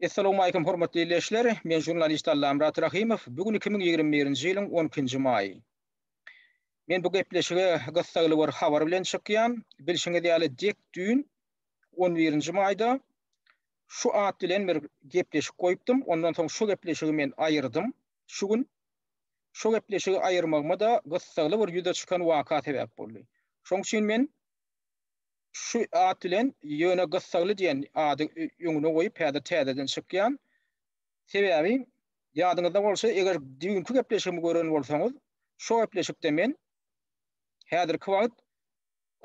Essalamualeýkum hormatly ildeşler, men žurnalist Allamyrat Rahymow, bu gün iki müň ýigrimi birinji ýylyň on ikinji maýy. Men bu gepleşige gyssagly bir habar bilen çykýan, bilşiňiz ýaly dek düýn on birinji maýda şu at bilen bir gepleşik goýupdym, ondan soň şu gepleşigi men aýyrdym, şu gün şu gepleşigi aýyrmagyma-da gyssagly bir ýüze çykan waka sebäp boldy. Şoň üçin men. Şu at bilen ýöne Gyssagly diýen ady öňüne goýup häzir täzeden çykýan. Sebäbi ýadyňyzda bolsa eger düýnki gepleşigimi gören bolsaňyz şo gepleşikde men häzirki wagt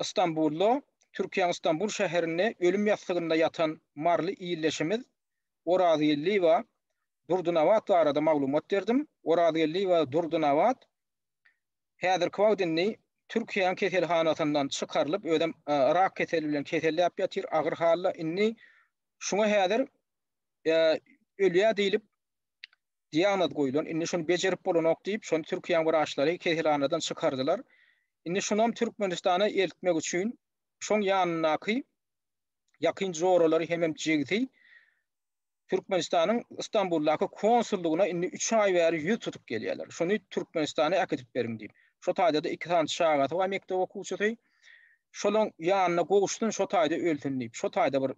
Ystambulda Türkiýäň Ystambul şäherinde ölüm ýassygynda ýatan maryly ildeşimiz Orazgeldiýewa Durdynabat barada maglumat berdim. Orazgeldiýewa Durdynabat Häzirki wagt indi Türkiýäň keselhanasyndan çykarylyp, özem rak keseli bilen keselläp ýatyr, agyr halda. Indi şuňa häzir ölýär diýlip diagnoz goýlan. Indi şuny bejerip bolanok diýip, şony Türkiýäň wraçlary keselhanadan çykardylar. Indi şunam Türkmenistana eltmek üçin şoň ýanyndaky ýakyn joralary hemem jigsi Türkmenistanyň Istanbuldaky konsullygyna indi üç aý bäri ýüz tutup gelýärler. Şuny Türkmenistana äkidip beriň diýip. Şo taýda-da iki sany çagasy bar mekdep okuwçysy. Şolaň ýanyna gowuşsyn, şo taýda ölsün diýip, şo taýda bir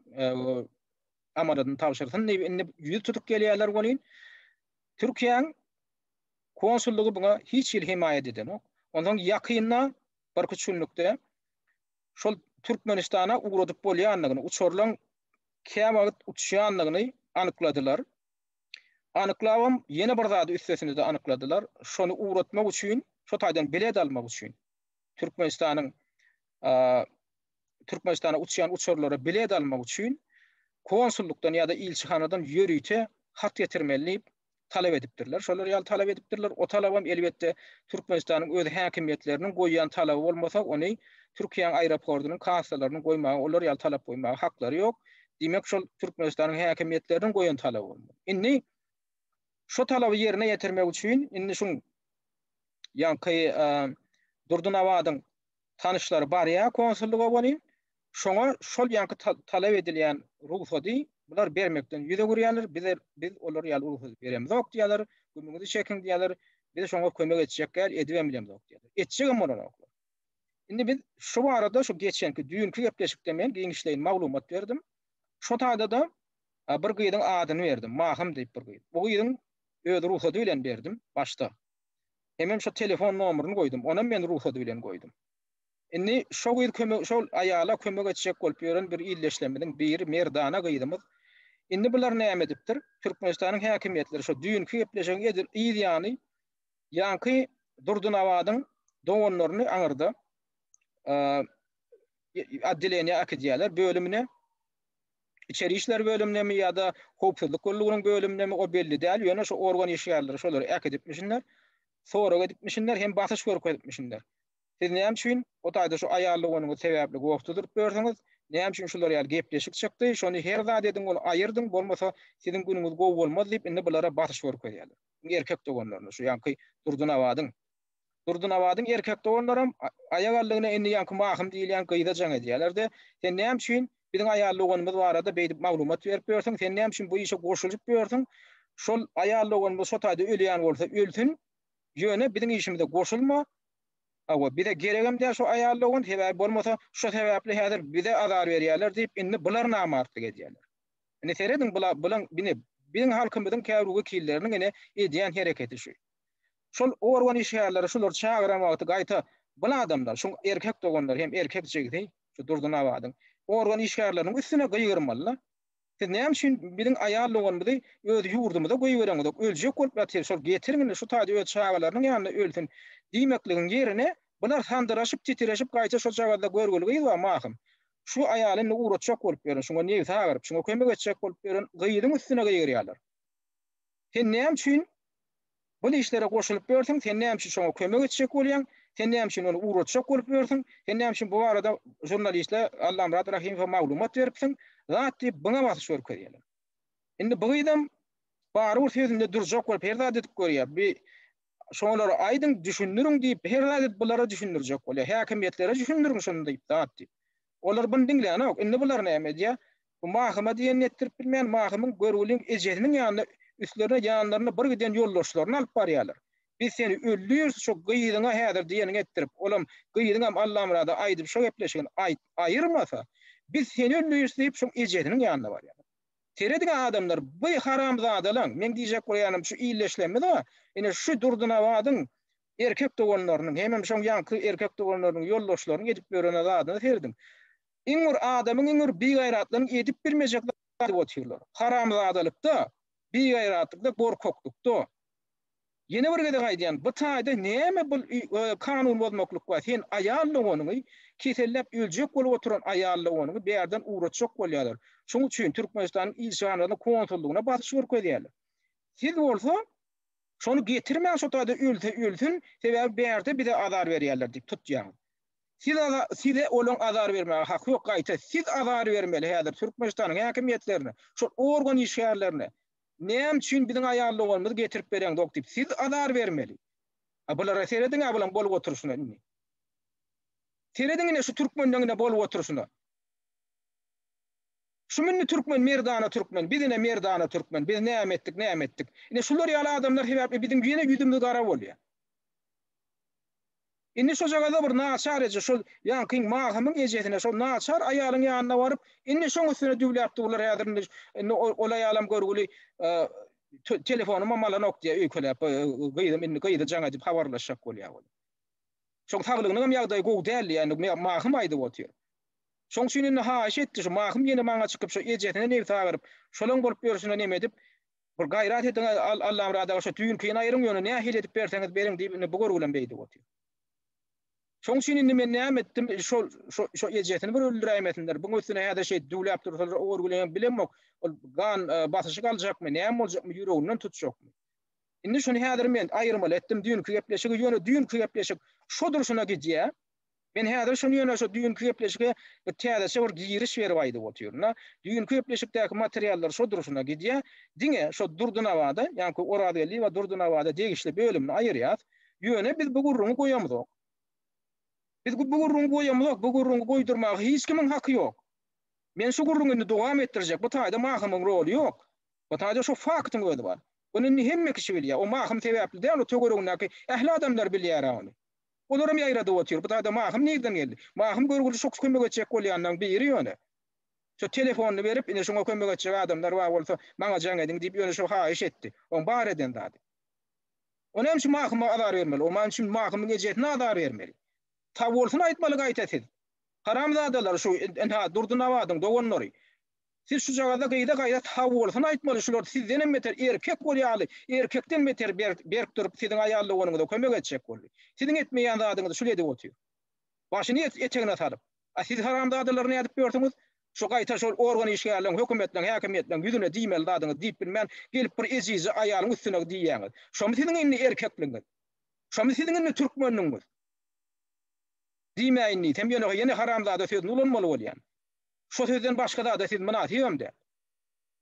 amanadyny tabşyrsyn diýip, indi ýüz tutup gelýärler welin, Türkiýäň konsullygy buňa hiç hili hemaýat edenok. Onsoň ýakynda, birküç günlükde şol Türkmenistana ugradyp bolýandygyny, uçarlaryň käwagt uçýandygyny anykladylar. Anyklabam ýene bir zady üstesine-de anykladylar, şony ugratmak üçin, şo taýdan bilet almak üçin, Türkmenistanyň Türkmenistana uçýan uçarlara bilet almak üçin konsullykdan ýa-da ilçihanadan ýörite hat getirmeli diýip, talap edipdirler. Şolar ýaly talap edipdirler. O talabam elbetde Türkmenistanyň öz häkimiýetleriniň goýýan talaby bolmasa, ony Türkiýäň aeroportynyň kassalarynyň goýmaga, olar ýaly talap goýmaga haklary ýok. Diýmek, şol Türkmenistanyň häkimiýetleriniň goýan talaby bolmaly. Indi şo talaby ýerine ýetirmek üçin indi şuň ýaňky Durdynabadyň tanyşlary barýar konsullyga welin, Şoňa şol ýaňky talap edilýän rugsady bular bermekden ýüz öwürýärler, bize biz olar ýaly rugsady beremizok diýýärler, gümüňizi çekiň diýýärler, biz şoňa kömek etjek däl, edibem bilemzok diýýärler. Etjegem bolanoklar. Indi biz şu barada şu geçenki düýnki gepleşikde men giňişleýin maglumat berdim. Şo taýda-da bir gyzyň adyny berdim, Mahym diýip bir gyz. Bu gyzyň öz rugsady bilen berdim başda. Hemem şo telefon nomerini goýdum, onam men rugsady bilen goýdum. Indi şo gyz kömek şol aýala kömek etjek bolup ýören bir ildeşlerimiziň biri Merdana gyzymyz. Indi bular näme edipdir? Türkmenistanyň häkimiýetleri şo düýnki gepleşigiň edil yz ýany ýaňky Durdynabadyň doganlaryny aňyrda oddeleniýä äkidýärler, bölümine. Içeri işler bölümindemi ýa-da howpsuzlyk gullugynyň bölümindemi o belli däl, ýöne şo organ işgärleri şolary äkidipmişinler, sorag edipmişinler hem basyş görkezipmişinler. Siz näme üçin o taýda şu aýal doganyňyz sebäpli goh duzuryp ýörsiňiz? Näme üçin şular ýaly gepleşik çykdy? Şony her zat ediň ony aýyrdyň, bolmasa siziň günüňiz gowy bolmaz diýip indi bulara basyş görkezýärler. Iň erkek doganlaryna şu ýaňky Durdynabadyň. Durdynabadyň erkek doganlaram aýak aldygyna indi ýaňky Mahym diýilýän gyza jaň edýärler-de, Sen näme üçin biziň aýal doganymyz barada beýdip maglumat berip ýörsiň? Sen näme üçin bu işe goşulyp ýörsiň? Şol aýal doganymyz şo taýda ölýän bolsa ölsün, Ýöne biziň işimize goşulma. Hawa, bize geregem däl şu aýallygyň, sebäbi bolmasa, şo sebäpli häzir bize azar berýärler diýip, indi bular namartlyk edýärler. Indi serediň, bular, bulaň, ine, biziň halkymyzyň käbir wekilleriniň ine edýän hereketi şu. Şol organ işgärleri şulary çagyran wagty gaýta, bul adamlar, şuň erkek doganlary hem erkek jigsi, şu Durdynabadyň organ işgärleriniň üstüne gygyrmaly-la. Siz näme üçin biziň aýal doganymyzy öz ýurdumyza goýbereňizok, öljek bolup ýatyr, şol getirin indi şu taýda öz çagalarynyň ýanynda ölsün diýmekligiň ýerine, bular sandyraşyp, titireşip gaýta şo jagazda görgüli gyz bar Mahym. Şu aýaly indi ugratjak bolup ýören, şuňa nebsi agyryp, şuňa kömek etjek bolup ýören gyzyň üstüne gygyrýarlar. Sen näme üçin Bul işlere goşulyp ýörsüň, sen näme üçin şoňa kömek etjek bolýaň, sen näme üçin ony ugratjak bolup ýörsüň, sen näme üçin bu barada žurnalistle Allamyrat Rahimowa maglumat beripsiň, zat diýip byňa basyş görkezýäler. Indi bu gyzam barybir sözünde durjak bolup her zat edip görýär. Bi şolara aýdyň, düşündiriň diýip her zat edip bulara düşündirjek bolýar. Häkimiýetlere düşündiriň şuny diýip zat diýip. Olar buny diňlänok. Indi bular näme edýär? Bu Mahyma diýen ýetdirip bilmän, Mahymyň görgüliň ejesiniň ýanyna üstlerine ýanlarynda bir giden ýoldaşlaryny alyp barýarlar. Biz seni öldüriris, şo gyzyňa häzir diýeniňi etdirip, olam, gyzyňam Allamyrada aýdyp şo gepleşigini aýt, aýyrmasa, biz seni öldüriris diýip, şoň ejesiniň ýanyna barýarlar. Serediň-ä adamlar, bu haramzadalaň, meň diýjek bolýanym şu illeşlemmiz-ä, ine, şu Durdynabadyň erkek doganlarynyň, hemem şoň ýaňky erkek doganlarynyň, ýoldaşlarynyň edip ýörene zadyna serediň. Iň bir adamyň, iň bir bigaýratlaryň edip bilmejek zady edip otyrlar. Haramzadalykda, bigaýratlykda, gorkaklykda. Ýene bir gezek aýdýan, bu taýda näme bul kanun bozmaklyk bar, sen aýal doganyňy, keselläp öljek bolup oturan aýal doganyňy bärden ugratjak bolýarlar. Şoň üçin Türkmenistanyň ilçihanasyna, konsullygyna basyş görkezýärler. Siz bolsa. Şony getirmäň şo taýda ölse ölsün, sebäbi bärde bize azar berýärler diýip tutýaňyz. Siz aza size olaň azar bermäge haky ýok gaýta siz azar bermeli häzir Türkmenistanyň häkimiýetlerine şol organ işgärlerine näme üçin biziň aýal doganymyzy getirip bereňzok diýip siz azar bermeli. A bulara serediňä bulaň bolup oturyşyna indi. Serediň ine şu türkmenleň ine bolup oturyşyna. Şu mündi türkmen merdana türkmen biz ine merdana türkmen biz näme etdik näme etdik ine şular ýaly adamlar sebäpli biziň ýene ýüzümiz gara bolýar. Indi şojagaza bir naçar eje şol ýaňkyň Magamyň ejesine şol naçar aýalyň ýanyna baryp indi şoň üstüne düwläp durlar häzir indi indi ol aýalam görgüli telefonymam alanok diýýär öýkeläp gyzym indi gyzy jaň edip habarlaşjak bolýar ol. Şoň saglygynygam ýagdaýy gowy däl diýýär indi Magym aýdyp otyr. Şoň üçin indi haýyş etdi, şu Mahym ýene maňa çykyp, şu ejesine nebsi agyryp, şolaň bolup ýörşüne neme edip, bir gaýrat ediň, Allamyrat aga, şu düýnkini aýryň, ýöne nähili edip berseňiz beriň diýip, indi bu görgülem beýdip otyr. Şoň üçin indi men näme etdim, şol, şu, şu ejesini bir öldüräýmesinler, buň üstüne häzir şeýdip düwläp dursalar, o görgüleňem bilemok, ol gan basyşyk aljakmy, näme boljakmy, ýüreginden tutjakmy. Indi şuny häzir men aýyrmaly etdim, düýnki gepleşigi, ýöne düýnki gepleşik şu durşuna gidýär, Men häzir şuny ýöne şu düýnki gepleşige täzeçe bir giriş berip aýdyp otyryn-da. Düýnki gepleşikdäki materiallar şo durşuna gidýär. Diňe şo Durdunabada, ýaňky Orazgeldiýewa Durdunabada degişli bölümini aýyrýas. Ýöne biz bu gürrüňi goýamzok. Biz bu gürrüňi goýamzok, bu gürrüňi goýdurmaga hiç kimiň haky ýok. Men şu gürrüňi indi dowam etdirjek. Bu taýda Mahymyň roly ýok. Bu taýda şo faktyň özi bar. Ony indi hemme kişi bilýär. O Mahym sebäpli däl, o töweregindäki ähli adamlar bilýär-ä ony. Olaram ýaýradyp otyr. Bu zada Mahym nirden geldi? Mahym görgüli şo kömek etjek bolýanlaň biri ýöne. Şo telefonyny berip, ine şoňa kömek etjek adamlar bar bolsa, maňa jaň ediň diýip ýöne şo haýyş etdi. Oň bar eden zady. O näme üçin Mahyma azar bermeli? O näme üçin Mahymyň ejesine azar bermeli? Sag bolsun aýtmaly gaýta siz. Haramzadalar şu, ynha, Durdy Nabadyň doganlary. Siz şujagazda gyza gaýrat haolysyny aýtmaly şular sizdenem beter erkek bolýaly erkekden beter berk durup siziň aýal doganyňyza kömek etjek boldy siziň etmeýän zadyňyzy şul edip otyr başyny etegine salyp a siz haramzadalary nädip gördüňiz şu gaýta şol organ işgärleň hökümetleň häkimiýetleň ýüzüne diýmeli zadyňyz diýip bilmän gelip bir ejizje aýalyň üstüne diýýäňiz şomy siziň indi erkekligiňiz şomy siziň indi türkmenligiňiz diýmäýin diýsem ýöne ýene haramzada sözüni ulanmaly bolýan. Şo sözden başga zada siz mynasybam däl.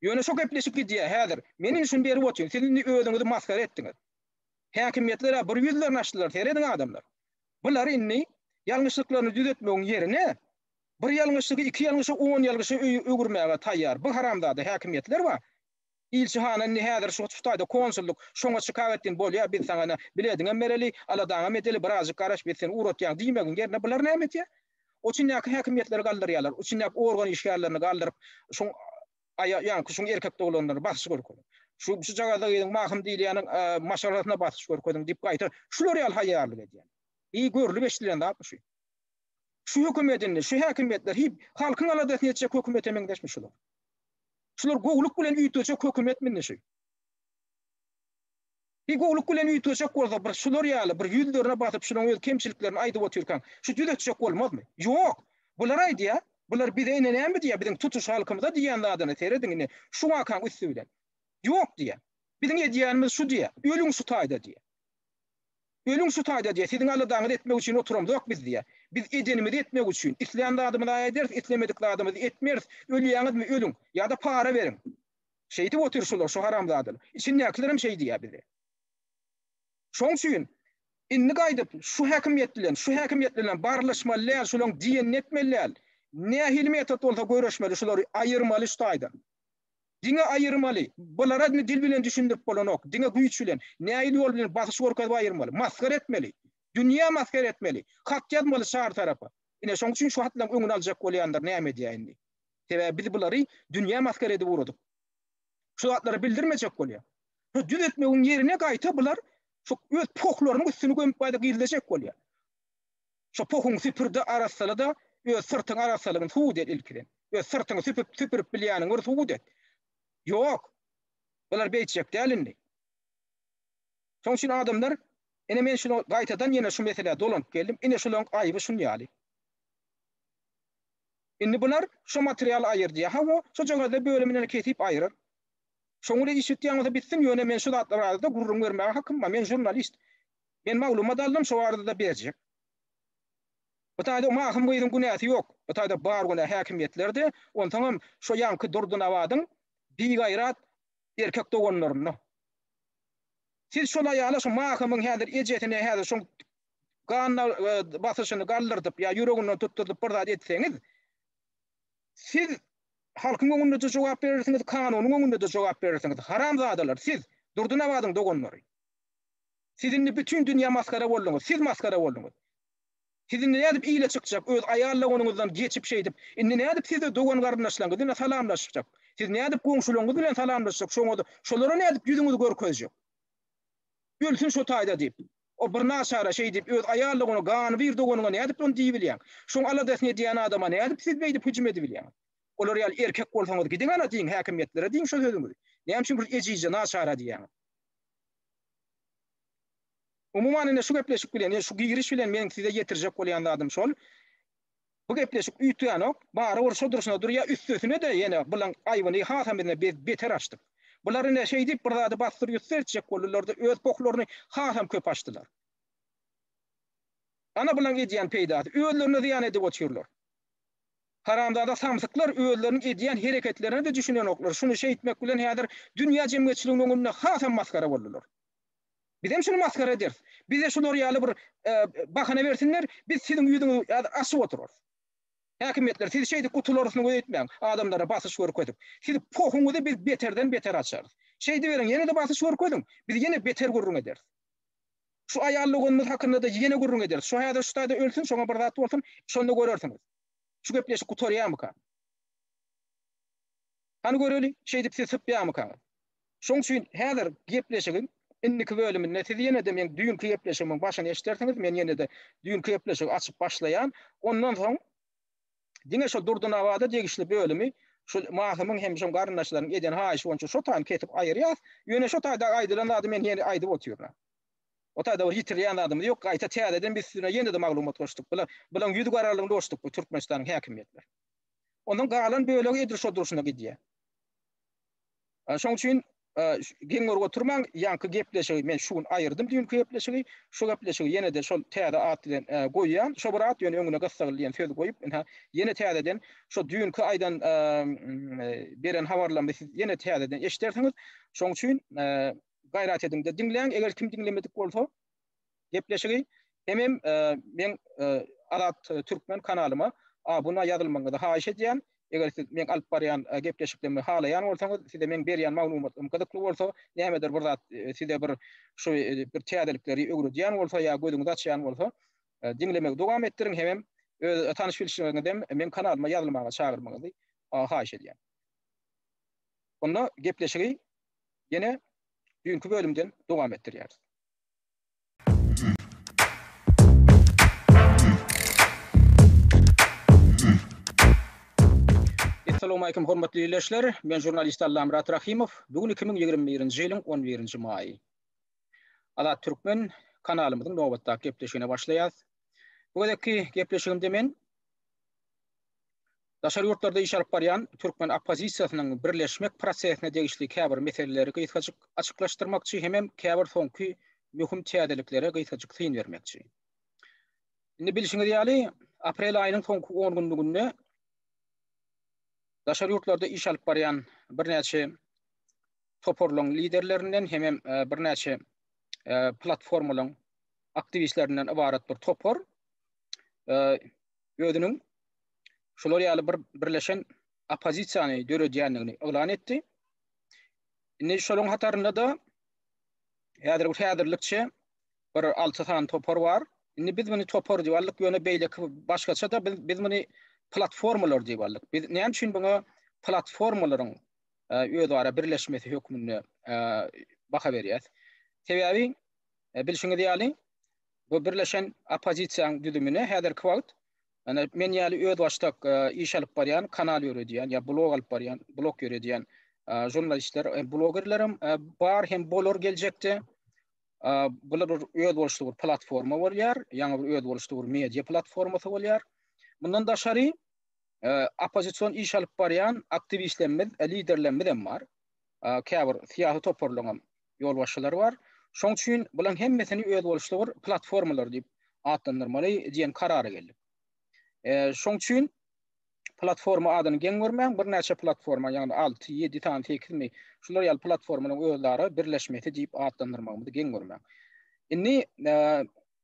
Ýöne şo gepleşik gidýär häzir. Men indi şuny berip otyryn, siz indi özüňizi masgara etdiňiz. Häkimiýetler-ä bir ýüzlerini açdylar, serediň adamlar. Bular indi ýalňyşlyklaryny düzetmegiň ýerine, bir ýalňyşlygy iki ýalňyşa, on ýalňyşa öwürmäge taýýar. Bu haramzada häkimiýetler bar. Ilçi hana indi häzir şu taýda konsullyk, şoňa şikaýat etdiň, bolýa, biz saňa ene, bilediňem bereli, aladaňam edeli, birazjyk garaş, biz seni ugratýaň diýmegiň ýerine bular näme etýär? Üçindäki häkimiýetleri galdyrýarlar, üçindäki organ işgärlerini galdyryp, şuň aýa, ýaňky şuň erkek doglanlara basyş görkeziň. Şu şujagazda gyzyň Mahym diýilýäniň maşgalasyna basyş görkeziň diýip gaýta şular ýaly haýýarlyk edýär. Eý, görlüp-eşidilen zatmy şu? Şu hökümet indi, şu häkimiýetler, hiý, halkyň aladasyny etjek hökümete meňzeşmi şular? Şular gowluk bilen üýtgeçek hökümet minişi. Bir gowluk bilen üýtgeçek bolsa bir şular ýaly bir ýüzlerine basyp şunuň öz kemçiliklerini aýdyp otyrkaň şu düzetjek bolmazmy? Ýok. Bular aýdýa, bular bize ine näme diýýä biziň tutuş halkymyza diýýän zadyny serediň ine şu wakaň üsti bilen. Ýok diýýä. Biziň edýänimiz şu diýýä. Ölüň şu taýda diýýä. Ölüň şu taýda diýýär, siziň aladaňyzy etmek üçin oturamzok biz diýýär. Biz edenimizi etmek üçin, islän zadymyza ederis, islemedik zadymyzy etmeris. Ölýäňizmi, ölüň! Ýa-da para beriň! Şeýdip otyr şular, şu haramzadalar. Içindäkilerem şeý diýýär bize. Şoň üçin indi gaýdyp şu häkimiýet bilen, şu häkimiýet bilenem barlaşmaly däl, şularyň diýenini etmeli däl. Nähili metod bolsa göreşmeli, şulary aýyrmaly şu taýdan. Diňe aýyrmaly. Bulara dil bilen düşündirip bolanok. Diňe güýç bilen. Nähili ýol bilen basyş görkezip aýyrmaly. Masgara etmeli. Dünýä masgara etmeli. Hat ýazmaly çar tarapa. Ine şoň üçin şu hatlaryň öňüni aljak bolýandyr näme edýä indi. Sebäbi biz bulary dünýä masgara edip ugradyk. Şu zatlary bildirmejek bolýa. Şu düz etmegiň ýerine gaýta bular şu öz pohlarynyň üstüni gömüp gaýta gizlejek bolýa. Şo pohuňy süpür-de, arassala-da, öz syrtyň arassalygyny subut et ilkiden. Öz syrtyňy süpüp, süpürip bilýäniňi bir subut et. Ýok. Bular beýtjek däl indi. Şoň üçin adamlar, ine men şuny gaýtadan ýene şu meselä dolanyp geldim, ine şularyň aýby şun ýaly. Indi bular şo materialy aýyr diýýär. Hawa, şojagazda bölümine kesip aýyrar. Şoňa-da iş ýitýän bolsa bitsin, ýöne men şu zatlar barada gürrüň bermäge hakym bar. Men žurnalist. Men maglumat aldym şo barada-da berjek. Bu taýda o mahym gyzyň günäsi ýok. Bu taýda bar günä häkimiýetlerde, onsoňam şo ýaňky Durdynabadyň bigaýrat erkek doganlarynda. Siz şol aýala şo mahymyň häzir ejesine häzir şoň gan basyşyny galdyrdyp ýa ýüreginden tutdurdyp bir zat etseňiz, siz halkyň öňünde-de jogap berersiňiz, kanunyň öňünde-de jogap berersiňiz. Haramzadalar siz, Durdynabadyň doganlary. Siz indi bütin dünýä masgara bolduňyz, siz masgara bolduňyz. Siz indi nädip ile çykjak, öz aýallagonyňyzdan geçip şeýdip, indi nädip siz-de dogan-garyndaşlaryňyz bilen salamlaşjak? Siz nädip goňşularyňyz bilen salamlaşjak, şoňa-da şolara nädip ýüzüňizi görkezjek? Ölsün şo taýda diýip, o birnaçara şeý diýip, öz aýallagony gany bir doganyňa nädip ony diýibilýäň? Şoň aladasyny edýän adama nädip siz beýdip hüjüm edibilýäňiz? Olar ýaly erkek bolsaňyz gidiň ana diýiň, häkimiýetlere diýiň şo sözüňizi. Näme üçin bir ejizje naçara diýýäňiz? Umuman, ine, şu gepleşik bilen, ine, şu giriş bilen meniň size ýetirjek bolýan zadym şol, bu gepleşik üýtgänok, barybir şo durşuna durýar, üstesine-de ýene bulan aýbyny hasam bizden beter açdyk. Bular ine şeýdip bir zady bassyr-ýussur etjek boldular-da, öz pohlaryny hasam köp açdylar. Ana bulaň edýän peýdasy, özlerine zyýan edip otyrlar. Haramzada samsyklar özleriniň edýän hereketlerine-de düşünenoklar, şuny şeýtmek bilen häzir dünýä jemgyýetçiliginiň öňünde hasam masgara boldular. Bizem şuny masgara ederis. Bize şular ýaly bir bahana bersinler, biz siziň ýüzüňizi häzir açyp oturarys. Häkimiýetler, siz şeýdip gutularsyňyz öýtmäň, adamlara basyş görkezip. Siz pohuňyzy biz beterden beter açarys. Şeýdiberiň, ýene-de basyş görkeziň, biz ýene beter gürrüň ederis. Şu aýal doganymyz hakynda-da ýene gürrüň ederis. Şu häzir şu taýda ölsün, şoňa bir zat bolsun, şonda görersiňiz. Şu gepleşik gutarýarmyka? Hany göreli, şeýdip siz sypýarmykaňyz? Şoň üçin häzir gepleşigiň indiki bölüminde siz ýene-de meň düýnki gepleşigimiň başyny eşidersiňiz, men ýene-de düýnki gepleşigi açyp başlaýan. Ondan soň diňe şol Durdunabada degişli bölümi şu Mahymyň hem şu garyndaşlaryň eden haýyşy boýunça şo taýyny kesip aýyrýas. Ýöne şo taýdaky aýdylan zady men ýene aýdyp otyryn. Otada bir ýitirilýän zadymyz ýok, gaýta täzeden biz üstüne ýene-de maglumat goşduk. Bula, bulaň ýüz garalygyny goşduk bu Türkmenistanyň häkimiýetler. Onuň galan bölegi edil şo durşuna gidýä. A, şoň üçin a, ş- geň görüp oturmaň, ýaňky gepleşigi men şu gün aýyrdym düýnki gepleşigi, şu gepleşigi ýene-de şol täze at bilen e, goýýan. Şo bir at ýöne öňüne Gyssagly diýen söz goýup, ynha, ýene täzeden şo düýnki aýdan e, m, e, beren habarlarymyzy siz ýene täzeden eşidersiňiz. Şoň üçin e, Gaýrat ediňde diňläň eger kim diňlemedik bolsa gepleşigi hemem meň Azat Türkmen kanalyma abuna ýazylmagyňyzy haýyş edýän eger siz meň alyp barýan gepleşiklerimi halaýan bolsaňyz size meň berýän maglumatlarym gyzykly bolsa nämedir bir zat size bir şu bir täzelikleri öwredýän bolsa ýa gözüňizi açýan bolsa diňlemegi dowam etdiriň hemem öz tanyş bilşleriňizem meň kanalyma ýazylmaga çagyrmagyňyzy haýyş edýän. Onda gepleşigi Ýene düýnki bölümden dowam etdirýäris. Assalamu alaykum hormatly ýerleşler. Men žurnalist Allamyrat Rahimow. Bu gün 2021-nji ýylyň 11-nji maýy. Azat Türkmen kanalymyzyň nobatdaky gepleşigine başlaýarys. Bu gezekki gepleşigimde men Daşary ýurtlarda iş alyp barýan türkmen oppozisiýasynyň birleşmek prosesine degişli käbir meseleleri gysgajyk açyklaşdyrmakçy hemem käbir soňky möhüm täzeliklere gysgajyk syn bermekçi. Indi bilşiňiz ýaly, aprel aýynyň soňky on günlüginde daşary ýurtlarda iş alyp barýan birnäçe toparlaryň liderlerinden hemem birnäçe platformalaryň aktiwistlerinden ybarat bir topar özüniň şular ýaly bir birleşen oppozisiýany döredýändigini yglan etdi. Indi şolaryň hatarynda-da häzir bu häzirlikçe bir 6 sany topar bar. Indi biz muny topar diýip aldyk, ýöne beýleki başgaça-da biz biz muny platformalar diýip aldyk. Biz näme üçin muňa platformalaryň e, özara birleşmesi hökmünde e, baha berýäs? Sebäbi e, bilşiňiz ýaly bu birleşen oppozisiýanyň düzümine häzirki wagt Ene men ýaly özbaşdak iş alyp barýan, kanal ýöredýän ýa blog alyp barýan, blog ýöredýän žurnalistler, blogerlerim bar hem bolar geljekde. Bular bir özboluşly bir platforma bolýar, ýaňy bir özboluşly bir media platformasy bolýar. Mundan daşary oppozision iş alyp barýan aktiwistlerimiz, liderlerimiz hem bar. Käbir syýasy toparlaryň hem ýolbaşçylary bar. Şoň üçin bulaň hemmesini özboluşly bir platformalar diýip atlandyrmaly diýen karara geldik. Şoň üçin platforma adyny geň görmäň, birnäçe platforma, ýagny alty, ýedi sany, sekizmi, şular ýaly platformalaryň özara birleşmesi diýip atlandyrmagymyzy geň görmäň. Indi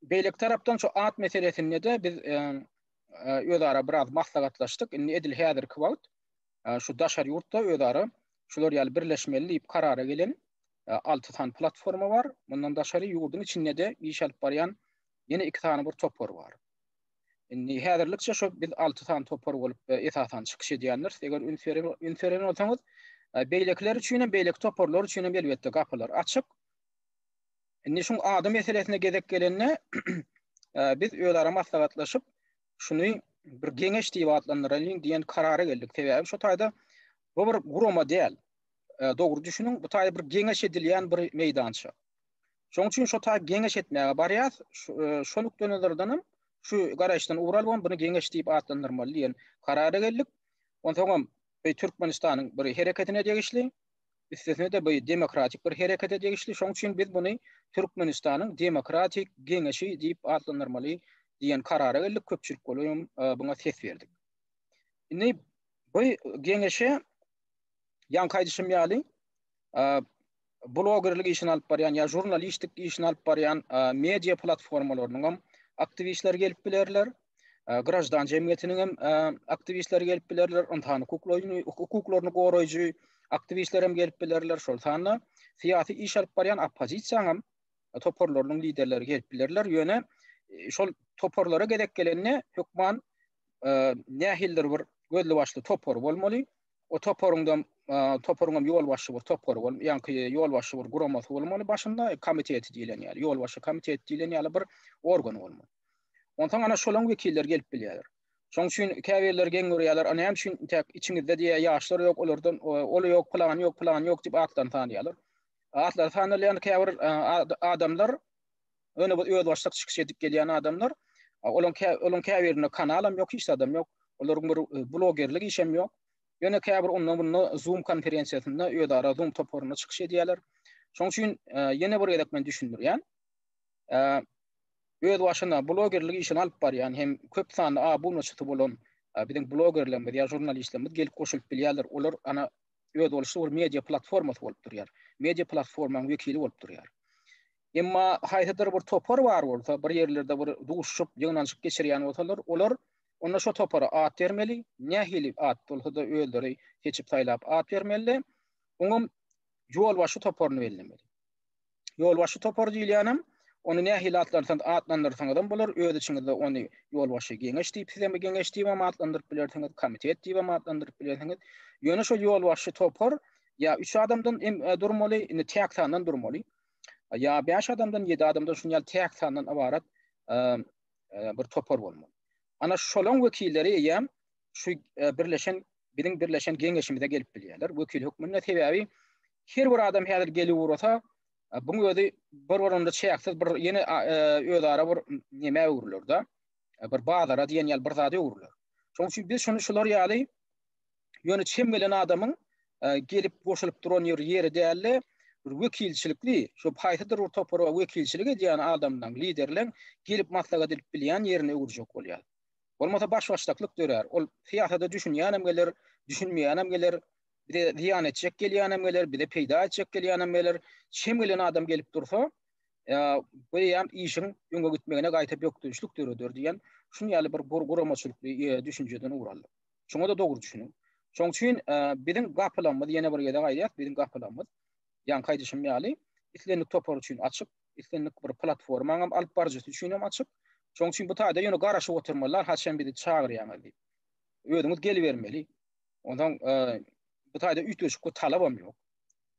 beýleki tarapdan şu at meselesinde-de biz özara biraz maslahatlaşdyk. Indi edil häzirki wagt şu daşary ýurtda özara şular ýaly birleşmeli diýip karara gelen alty sany platforma bar. Mundan daşary ýurduň içinde-de iş alyp barýan ýene iki sany bir topar bar. Indi häzirlikçe şu biz alty sany topar bolup esasan çykyş edýändiris. Eger üns beren bolsaňyz, beýlekiler üçin hem, beýleki toparlar üçin hem elbetde gapylar açyk. Indi şuň ady meselesine gezek gelende, biz özara maslahatlaşyp, şuny bir geňeş diýip atlandyraýyn diýen karara geldik. Sebäbi şu taýda bu bir gurama däl. E, dogry düşüniň, bu taýda bir geňeş edilýän bir meýdança. Şoň üçin şu taýda geňeş etmäge barýas. E, şu nukda nazardan hem şu garaýyşdan ugur alyp, bunu geňeş diýip atlandyrmaly diýen karara geldik. Onsoň hem e, Türkmenistanyň bir hereketine degişli üstesine-de bu demokratik bir herekete degişli, şoň üçin biz buny Türkmenistanyň demokratik geňeşi diýip atlandyrmaly diýen karara geldik, köpçülik bolup hem buňa ses berdik. Indi bu geňeşe ýaňky aýdyşym ýaly blogerlik işini alyp barýan ýa žurnalistik işini alyp barýan media platformalarynyň hem aktiwistleri gelip bilerler, graždan jemgyýetiniň hem aktiwistleri gelip bilerler, ynsan hukuklaryny, hukuklaryny goraýjy aktiwistler hem gelip bilerler. Şol sanda syýasy iş alyp barýan oppozisiýa hem toparlarynyň liderleri gelip bilerler. Ýöne e, şol toparlara gezek gelende hökman e, nähildir bir gözli başly topar bolmaly. O toparyňda e, toparyň hem ýol başy bir topar bol, ýaňky ýol başy bir guramasy bolmaly başynda komiteti diýlen ýaly, ýol başy komiteti diýlen ýaly bir organ bolmaly. Onsoň ana şolaň wekilleri gelip bilýärler. Şoň üçin käbirleri geň görýärler, a näme üçin intäk içiňizde diýýär, ýaşlar ýok, olardan ol ýok, pylany ýok, pylany ýok diýip atlaryny sanýarlar. Atlary sanalýan käbir adamlar, ýöne bu özbaşdak çykyş edip gelýän adamlar, olaň olaň käbirinde kanalam ýok, hiç zadam ýok. Olaryň bir blogerlik işem ýok. Ýöne käbir onda munda Zoom konferensiýasynda özara Zoom toparynda çykyş edýärler. Şoň üçin ýene bir gezek men düşündirýän. öz başyna blogerlik işini alyp barýan hem köp sanly abunaçysy bolan biziň blogerlerimiz ýa žurnalistlerimiz gelip goşulyp bilýärler. Olar ana öz boluşy bir media platformasy bolup durýar. Media platformanyň wekili bolup durýar. Emma haýsydyr bir topar bar bolsa, bir ýerlerde bir duşuşyp, ýygnanyşyk geçirýän bolsalar, olar onda şo topara at bermeli, nähili at bolsa-da özleri seçip saýlap at bermeli. Oňa ýolbaşçy toparyny bellemeli. Ýolbaşçy topary diýilýänem, ony nähili atlandyrsaňyzam bolar, öz içiňizde ony ýolbaşçy geňeş diýip, siz hem geňeş diýibem atlandyryp bilersiňiz, komitet diýibem atlandyryp bilersiňiz. Ýöne şol ýolbaşçy topar ýa üç adamdan durmaly, indi täk sandan durmaly. Ýa bäş adamdan, ýedi adamdan şunuň ýaly täk sandan ybarat bir topar bolmaly. Ana şolaň wekilleri eýýäm şu birleşen biziň birleşen geňeşimize gelip bilýärler wekil hökmünde. Sebäbi her bir adam häzir gelip ugrasa, bu özi bir-birinde çäksiz bir ýene özara bir näme öwrüler-de, bir bazara diýen ýaly bir zada öwrüler. Şonuň üçin biz şuny şular ýaly ýöne çem gelen adamyň gelip goşulyp duran ýeri ýeri däldi. Bir wekilçilikli, şu haýsydyr bir topara wekilçilik edýän adamdan, liderleň gelip maslahat edip bilýän ýerine öwürjek bolýar. Bolmasa baş-başdaklyk dörär. Ol syýasada düşünýänem geler, düşünmeýänem geler, bize zyýan etjek gelýänem geler, bize peýda etjek gelýänem geler. Şem gelen adam gelip dursa, bu eýýäm işiň öňe gitmegine gaýta bökdençlik döreder diýen şun ýaly bir guramaçylykly düşünjeden ugur aldyk. Şoňa-da dogry düşüniň. Şoň üçin biziň gapylamyz, ýene bir gezek aýdýas, biziň gapylamyz, ýaňky aýdyşym ýaly, islendik topar üçin açyk. islendik bir platformaňam alyp baryjysy üçin hem açyk. Şoň üçin bu taýda ýöne garaşyp oturmalar, haçan bizi çagyrýaňyz diýip. Özüňiz gelibermeli. Ondan e, bu taýda üýtgeşik bir talap hem ýok.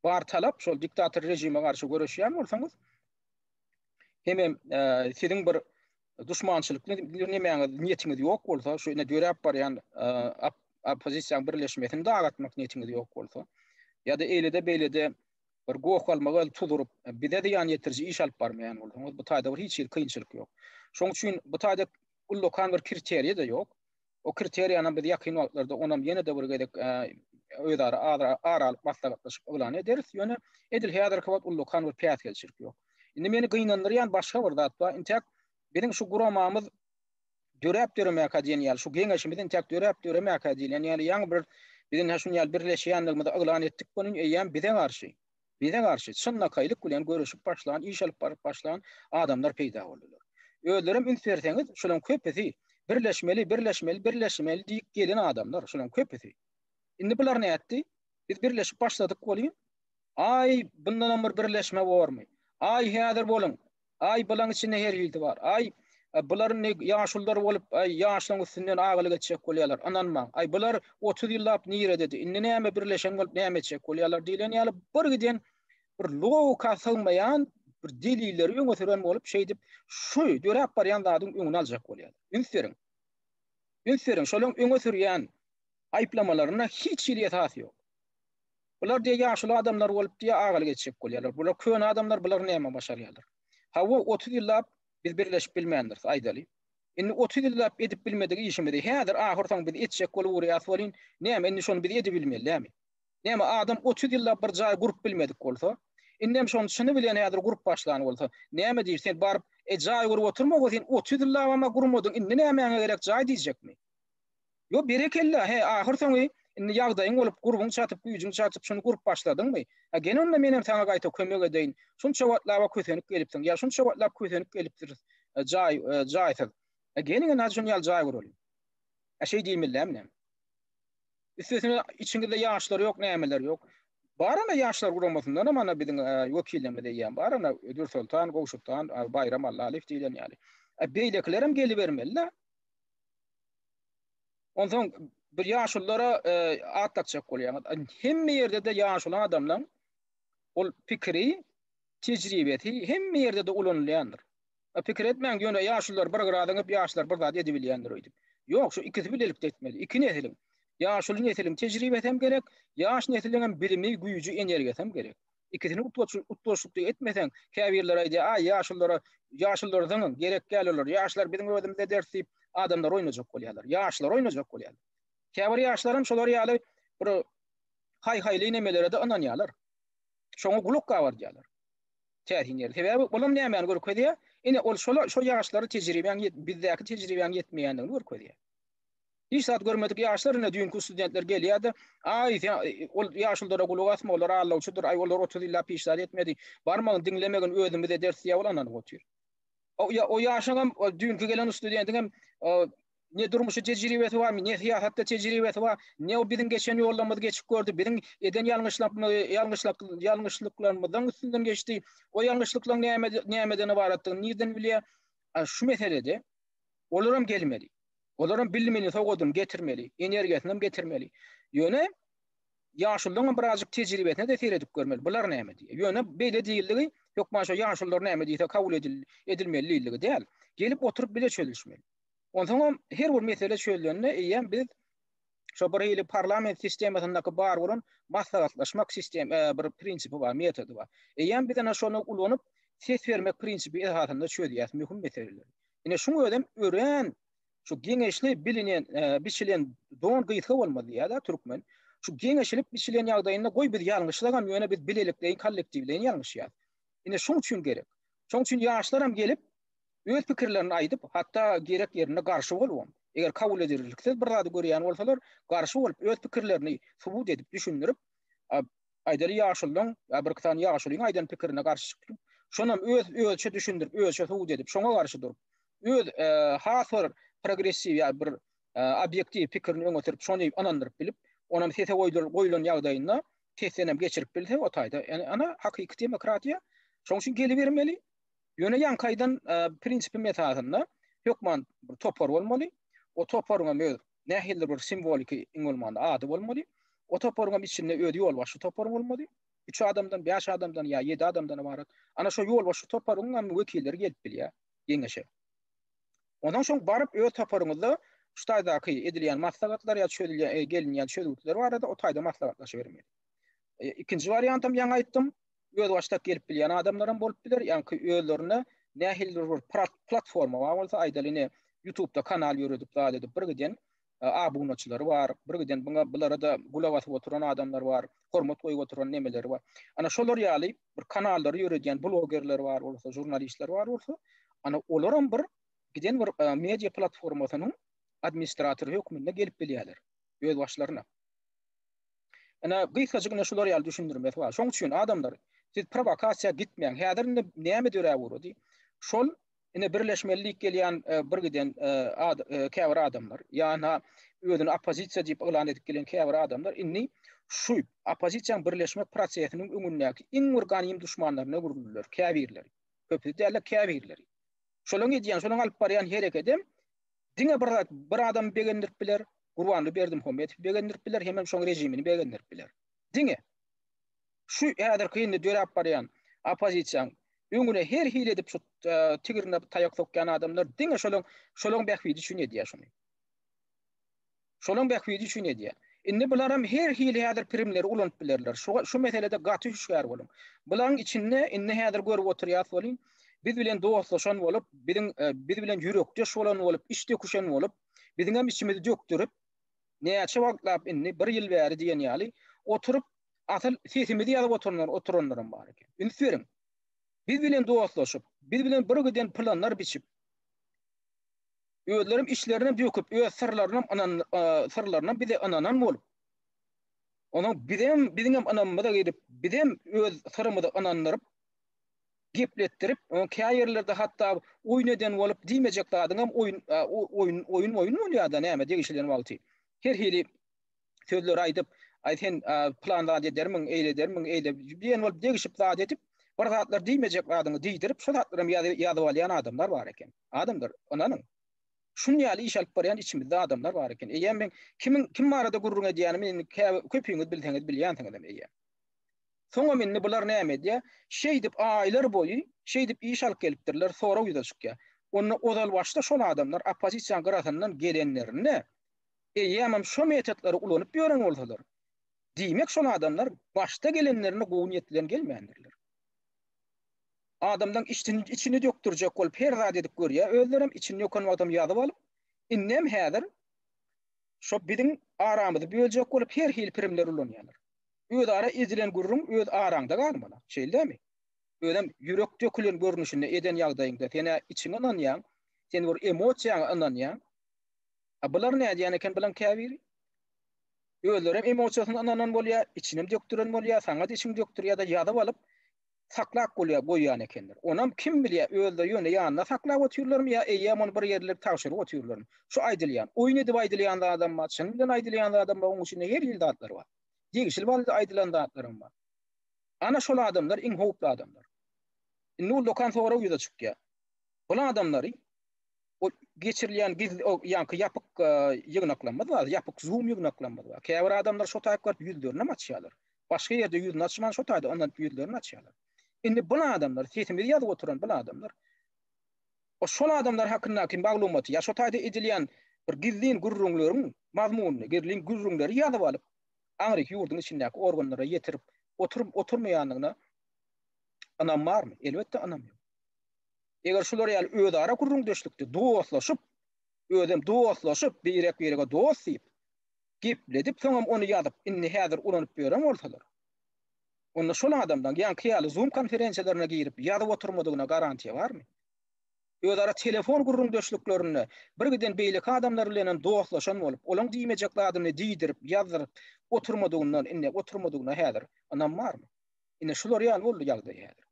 Bar talap şol diktator režime garşy göreşýän bolsaňyz, hem hem e, siziň bir duşmançylykly nemäňiz, niýetiňiz ýok bolsa, şu ine döräp barýan e, oppozisiýa birleşmesini dagatmak niýetiňiz ýok bolsa, ýa-da eýlede-beýlede bir goh-galmaga el tuz urup, bize zyýan ýetiriji iş alyp barmaýan bolsaňyz, bu taýda bir hiç hili kynçylyk ýok. Şonuň üçin bu taýda ullakan bir kriteriýa-da ýok. O kriteriýanam biz ýakyn wagtlarda onam ýene-de bir gezek özara ara alyp maslahatlaşyp yglan ederis. Ýöne edil häzirki wagt ullakan bir päsgelçilik ýok. Indi meni gynandyrýan başga bir zat bar. Intäk biziň şu guramamyz döräp-döremäkä diýen ýaly, şu Geňeşimiz entäk döräp-döremäkä diýlen ýaly, ýaňy bir biziň hä şuny ýaly birleşýändigimizi yglan etdik welin, eýýäm bize garşy, bize garşy çynlakaýlyk bilen göreşip başlan, iş alyp baryp başlan adamlar peýda boldular. Özlerem üns berseňiz, şularyň köpüsi birleşmeli, birleşmeli, birleşmeli diýip gelen adamlar, şularyň köpüsi. Indi bular nätdi? Biz birleşip başladyk welin, aý, bundanam bir birleşme bormy? Aý, häzir boluň, Aý bylaň içinde her hilsi bar. Aý bular indi ýaşullar bolup, aý ýaşlaň üstünden agalyk etjek bolýarlar. Ynanmaň. Aý bular otuz ýyllap nirededi. Indi näme birleşen bolup näme etjek bolýarlar diýlen ýaly birgiden bir logika sygmaýan bir delilleri öňe süren bolup şeýdip şu döräp barýan zadyň öňüni aljak bolýarlar. Üns beriň. Üns beriň şolaň öňe sürýän aýyplamalaryna hiç hili esas ýok. Bular diýe ýaşuly adamlar bolup diýe agalyk etjek bolýarlar. Bular köne adamlar bular näme başarýarlar. Hawa otuz ýyllap biz birleşip bilmändiris aýdaly. Indi otuz ýyllap edip bilmedik işimizi häzir ahyrsoňy biz etjek boluwurýas welin näme indi şony biz edibilmeli dämi. Näme adam otuz ýyllap bir jaý gurup bilmedik bolsa indem şony çyny bilen häzir gurup başlan bolsa näme diýip sen baryp e jaý gurup oturma we sen otuz ýyllabam-a gurmadyň indi nämäňe gerek jaý diýjekmi. Ýo berekella he ahyr soňy indi ýagdaýyň bolup gurbuň çatyp güýjüň çatyp şuny gurup başladyňmy he gel onda menem saňa gaýta kömek edeýin şunça wagtlaba kösenip gelipsiň ýa şunça wagtlap kösenip gelipdiris jaý jaýsyz he geliň indi hadi şuny ýaly jaý guralýa he şeý diýmelilämi näme üstesine içiňizde ýaşlar ýok nämeler ýok bar ana ýaşlar guramasyndanam ana biziň wekillerimiz eýýäm bar ana Dürsoltan Gowşutdan Baýram Allalyýew diýlen ýaly beýlekilerem gelibermelida. Onsoň bir ýaşulylara e, at dakjak bolýaňyz. Hemme ýerde de ýaşuly adamlaň ol pikiri, tejribesi hemme ýerde de ulanylýandyr. E, pikir etmäň, ýöne ýaşulylar bir gyradan hep ýaşlar bir zat edip bilýändir öýdüp. Ýok, şu ikisi bilelikde etmeli. Iki nesiliň. Ýaşuly nesiliň tejribesi hem gerek, ýaş nesiliň hem bilimi, güýji, energiýasy hem gerek. Ikisini utgaşykly etmeseň, käbirleri aýdýar, Aý, ýaşullara, ýaşullary zyňyň, gerek däl olar, ýaşlar biziň özümize ders diýip, adamlary oýnajak bolýarlar, ýaşlary oýnajak bolýarlar. Käbir ýaşlaram şolar ýaly bir haý-haýly nemelere-de ynanýarlar. Şoňa gulak gabardýarlar. Täsin ýeri. Sebäbi olam nämäni görkezýär? Ine, ol şola, şo ýaşlara tejribäň ýet, bizdäki tejribäň ýetmeýändigini görkezýär. Hiç zat görmedik ýaşlar ine düýnki studentler gelýärdi. Aý sen ol ýaşuldara gulak asma olar allawçydyr aý olar otuz ýyllap hiç zat etmedi. Barmagyn diňlemegin özümiz ederis diýýä ol ynanyp otyr. O ýaşyňam o düýnki gelen studentiňem ne durmuşy tejribesi bar ne syýasatda tejribesi bar ne o biziň geçen ýollarymyzy geçip gördi biziň eden ýalňyşlyklarymyzyň üstünden geçdi o ýalňyşlyklaryň näme nämeden ybaratdygyny nirden bilýär şu meselede olaram gelmeli Olaram bilimini, sowgadyny getirmeli, energiýasyny getirmeli. Ýöne ýaşullaryň hem birazjyk tejribesine-de seredip görmeli. Bular näme diýýär? Ýöne beýle diýildigi hökman şo ýaşullar näme diýse kabul edilmeli diýildigi däl. Gelip oturyp bile çözülişmeli. Onsoňam her bir mesele çözlende eýýäm biz Şo bir hili parlament sistemasyndaky bar bolan maslahatlaşmak sistem bir prinsipi bar, metody bar. Eýýäm biz ene şony ulanyp, ses bermek prinsipi esasynda çözýäs möhüm meseleleri. Ine şuň özem örän şu geňeşli bilinen, biçilen don gysga bolmaz diýýär-de türkmen. Şu geňeşilip biçilen ýagdaýynda goý biz ýalňyşsagam, ýöne biz bilelikleýin, kollektiwleýin ýalňyşýarys. Ine şuň üçin gerek. Şoň üçin ýaşlaram gelip, öz pikirlerini aýdyp, hatda gerek ýerinde garşy bolubam, eger kabul edilirliksiz bir zady görýän bolsalar, garşy bolup, öz pikirlerini subut edip, düşündirip, aýdaly ýaşulyň, ýa birki sany ýaşulyň aýdan pikirine garşy çykyp, şonam öz özüçe düşündirip, özüçe subut edip, şoňa garşy durup, öz has bir progressiw ýa bir obýektiw pikirini öňe sürüp, şony ynandyryp bilip, onam sese goýlan ýagdaýynda testdenem geçirip bilse, o taýda, ýa-ni, hakyky demokratiýa şoň üçin gelibermeli. Ýöne ýaňkaýdan prinsipim esasynda hökman bir topar bolmaly. O toparyň hem öz nähilidir bir simwoliki iň bolmanda ady bolmaly. O toparyň hem içinde özi ýolbaşçy toparyň bolmaly. Üç adamdan, bäş adamdan ýa ýedi adamdan ybarat. Ana şo ýolbaşçy toparyň hem wekilleri gelip bilýär geňeşe. Onsoň şoň baryp öz toparyňyzda şu taýdaky edilýän maslahatlar ýa çözülýän, gelinýän çözgütler barada o taýda maslahatlaşybermeli. Ikinji wariant hem ýaňy aýtdym, özbaşdak gelip bilýän adamlaram bolup biler, ýaňky özlerine nähildir bir platforma bar bolsa, aýdaly ine YouTube-da kanal ýöredip zat edip bir giden abunaçylary bar, bir giden buňa bulara-da gulak asyp oturan adamlar bar, hormat goýup oturan nemeleri bar. Ana şolar ýaly bir kanallary ýöredýän blogerler bar bolsa, žurnalistler bar bolsa, ana olaram bir giden bir media platformasynyň administratory hökmünde gelip bilýärler özbaşlaryna. Ine, gysgajyk ine şular ýaly düşündirmesi bar. Şoň üçin adamlar, siz prowokasiýa gitmäň. Häzir indi näme döräp ugrady? Şol ine birleşmeli diýip gelýän e, bir giden e, e, käbir adamlar, ýa-da özüni oppozisiýa diýip yglan edip gelen käbir adamlar indi şu oppozisiýanyň birleşmek prosesiniň öňündäki iň bir ganym duşmanlaryna öwrüldiler, käbirleri. Köpüsi däl, käbirleri. Şolaryň edýän, şolaryň alyp barýan hereketi Diňe bir zat, bir adamy begendirip biler, Gurbanly Berdimuhamedowy begendirip biler, hemem şoň režimini begendirip biler. Diňe. Şu häzirki indi döräp barýan oppozisiýaň öňüne her hili edip şu tigirine taýak sokýan adamlar diňe şolaň şolaň bähbidi üçin edýär şuny. Şolaň bähbidi üçin edýär. Indi bularam her hili häzir primleri ulanyp bilerler. Şu şu meselede gaty hüşgär boluň. Bulaň içinde indi häzir görüp oturýas welin, biz bilen dostlaşan bolup, biziň biz bilen ýürekdeş bolan bolup, iç döküşen bolup, biziňem içimizi dökdürip, näçe wagtlap indi, bir ýyl bäri diýen ýaly, oturyp, asyl sesimizi ýazyp oturanlar oturanlaram bar eken. Üns beriň. Biz bilen dostlaşyp, biz bilen bir giden planlar biçip, Özlerem içlerine döküp, öz syrlarynam ynan syrlarynam bize ynanan bolup. Onuň bizem biziňem ynamymyza gelip, bizem öz syrymyzy ynandyryp, gepletdirip, onuň käýerlerde hatda oýun eden bolup, diýmejek zadyňam oýun oýun oýun oýun bolýar-da, näme degişilen wagty. Her hili sözleri aýdyp, Aý sen plan zat edermiň, eýle edermiň, eýle diýen bolup degişip zat edip, bir zatlar diýmejek zadyňy diýdirip, şo zatlaram ýazyp alýan adamlar bar eken. Adamlar, ynanyň. Şuny ýaly iş alyp barýan içimizde adamlar bar eken. Eýýäm men kimiň kim barada gürrüň edýänimi indi käbir köpüňiz bilseňiz bilýänsiňizem eýýäm. Soňam indi bular näme edýär? Şeýdip aýlar boýy şeýdip iş alyp gelipdirler, sorag ýüze çykýar. Onda ozal başda şol adamlar oppozisiýanyň gyrasyndan gelenlerinde eýýämem şo metotlary ulanyp ýören bolsalar, diýmek şol adamlar başda gelenlerinde gowy niýet bilen gelmändirler. adamlaň içini içini dökdürjek bolup her zat edip görýär özlerem içini döken wagtam ýazyp alyp indem häzir şo biziň aramyzy böljek bolup her hili pirimler ulanýarlar özara edilen gürrüň öz araňda galmaly şeýldämi özem ýürek dökülen görnüşinde eden ýagdaýyňda senä içiňe ynanýaň sen bir emosiýaňa ynanýaň a bular nädýän eken bulaň käbiri özlerem emosiýasyna ynanan bolýar içinem dökdüren bolýar saňa içiň dökdürýär-de ýazyp alyp saklap bolýar, goýýan ekenler. Onam kim bilýär, özleri ýöne ýanynda saklap otyrlarmy ýa eýýäm ony bir ýerlere tabşyryp otyrlarmy? Şu aýdylýan, oýun edip aýdylýan zadam bar, çyn bilen aýdylýan zadam bar, onuň içinde her hili zatlar bar. Degişli boldy aýdylan zatlaram bar. Ana şol adamlar iň howply adamlar. Indi ol dokan sorag ýüze çykýar. Bul adamlary o geçirilýän giz o ýaňky ýapyk e, ýygnaklarymyz bar, ýapyk Zoom ýygnaklarymyz bar. Käbir adamlar şo taýyp görüp ýüzlerini hem açýarlar. Başga ýerde ýüzüni açman şo taýda ondan ýüzlerini açýarlar. Indi bu adamlar, sesimizi ýazyp oturan bu adamlar o şol adamlar hakyndaky maglumaty ýa şo taýda edilýän bir gizlin gürrüňleriň mazmunyny, gizlin gürrüňleri ýazyp alyp, aňryk ýurduň içindäki organlara ýetirip oturyp oturmaýandygyna ynam barmy? Elbetde ynam ýok. Eger şular ýaly özara gürrüňdeşlikde dostlaşyp, özem dostlaşyp, birek-birege dost diýip, gepledip, soňam ony ýazyp, indi häzir ulanyp ýören bolsalar, onda şol adamlaň ýaňky ýaly Zoom konferensiýalaryna girip ýazyp oturmadygyna garantiýa barmy? Özara telefon gürrüňdeşliklerinde birgiden beýleki adamlar bilenem dostlaşan bolup, olaň diýmejek zadyny diýdirip, ýazdyryp oturmadygyndan, indi oturmadygyna häzir ynam barmy? Ine, şular ýaly boldy ýagdaý häzir.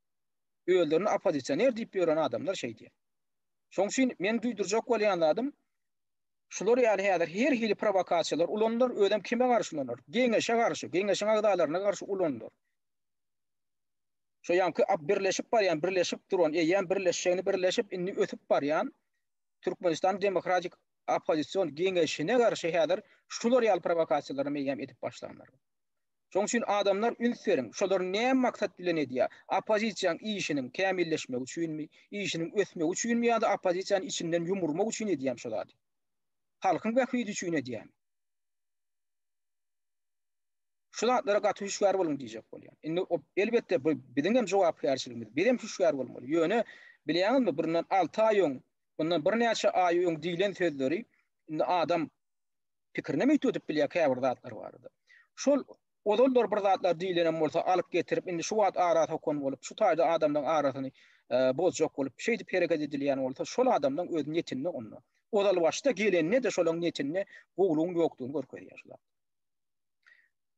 özlerini oppozisioner diýip ýören adamlar şeýdýär. Şoň üçin meniň duýdurjak bolýan zadym, şular ýaly häzir her hili prowokasiýalar ulanylar, özem kime garşy ulanylar? Geňeşe garşy, geňeşiň agzalaryna garşy ulanylar. Şo ýaňky birleşip barýan, birleşip duran, eýýäm birleşjegini birleşip, indi ösüp barýan Türkmenistan demokratik oppozision geňeşine garşy häzir şular ýaly prowokasiýalary eýýäm edip başlanlar. Şoň üçin adamlar üns beriň, şolar näme maksat bilen edýär? Oppozisiýaň işiniň kämilleşmegi üçinmi, işiniň ösmegi üçinmi ýa-da oppozisiýany içinden ýumurmak üçin edýärmi şo zady? Halkyň bähbidi üçin edýärmi? Şu zatlara gaty hüşgär boluň diýjek bolýan. Indi elbetde bu biziň hem jogapkärçiligimiz. Biz hem hüşgär bolmaly. Ýöne bilýäňizmi, bundan alty aý öň, bundan birnäçe aý öň diýlen sözleri indi adam Pikirinem öýt ödüp bilýär käbir zatlar barada. Şol ozallar bir zatlar diýlenem bolsa alyp getirip indi şu wagt ara sokan bolup şu taýda adamlaň arasyny bozjak bolup şeýdip hereket edilýän bolsa şol adamlaň öz netinde onda. Ozal başda gelende-de şolaň netinde gowlugyň ýokdugyny görkezýär şu zat.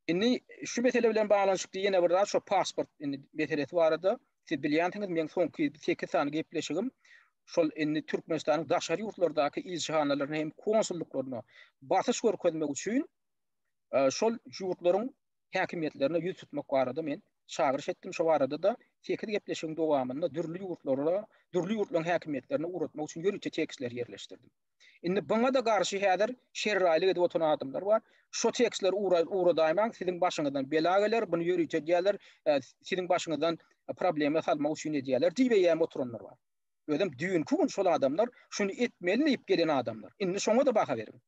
Indi şu mesele bilen baglanyşykly ýene bir zat şo pasport indi meselesi barada siz bilýänsiňiz meň soňky sekiz sany gepleşigim şol indi Türkmenistanyň daşary ýurtlardaky ilçihanalaryna hem konsullyklaryna basyş görkezmek üçin e, şol ýurtlaryň häkimiýetlerine ýüz tutmak barada men çagyryş etdim şo barada da sekiz gepleşigiň dowamynda dürli ýurtlara dürli ýurtlaryň häkimiýetlerine ugratmak üçin ýörite tekstleri ýerleşdirdim. Indi buňa-da garşy häzir şerraýlyk edip oturan adamlar bar. Şo tekstleri ugradaymaň, siziň başyňyzdan bela geler, buny ýörite edýärler, siziň başyňyzdan problema salmak üçin edýärler diýibem oturanlar bar. Özem düýnki gün şol adamlar şuny etmeli diýip gelen adamlar. Indi şoňa-da baha beriň.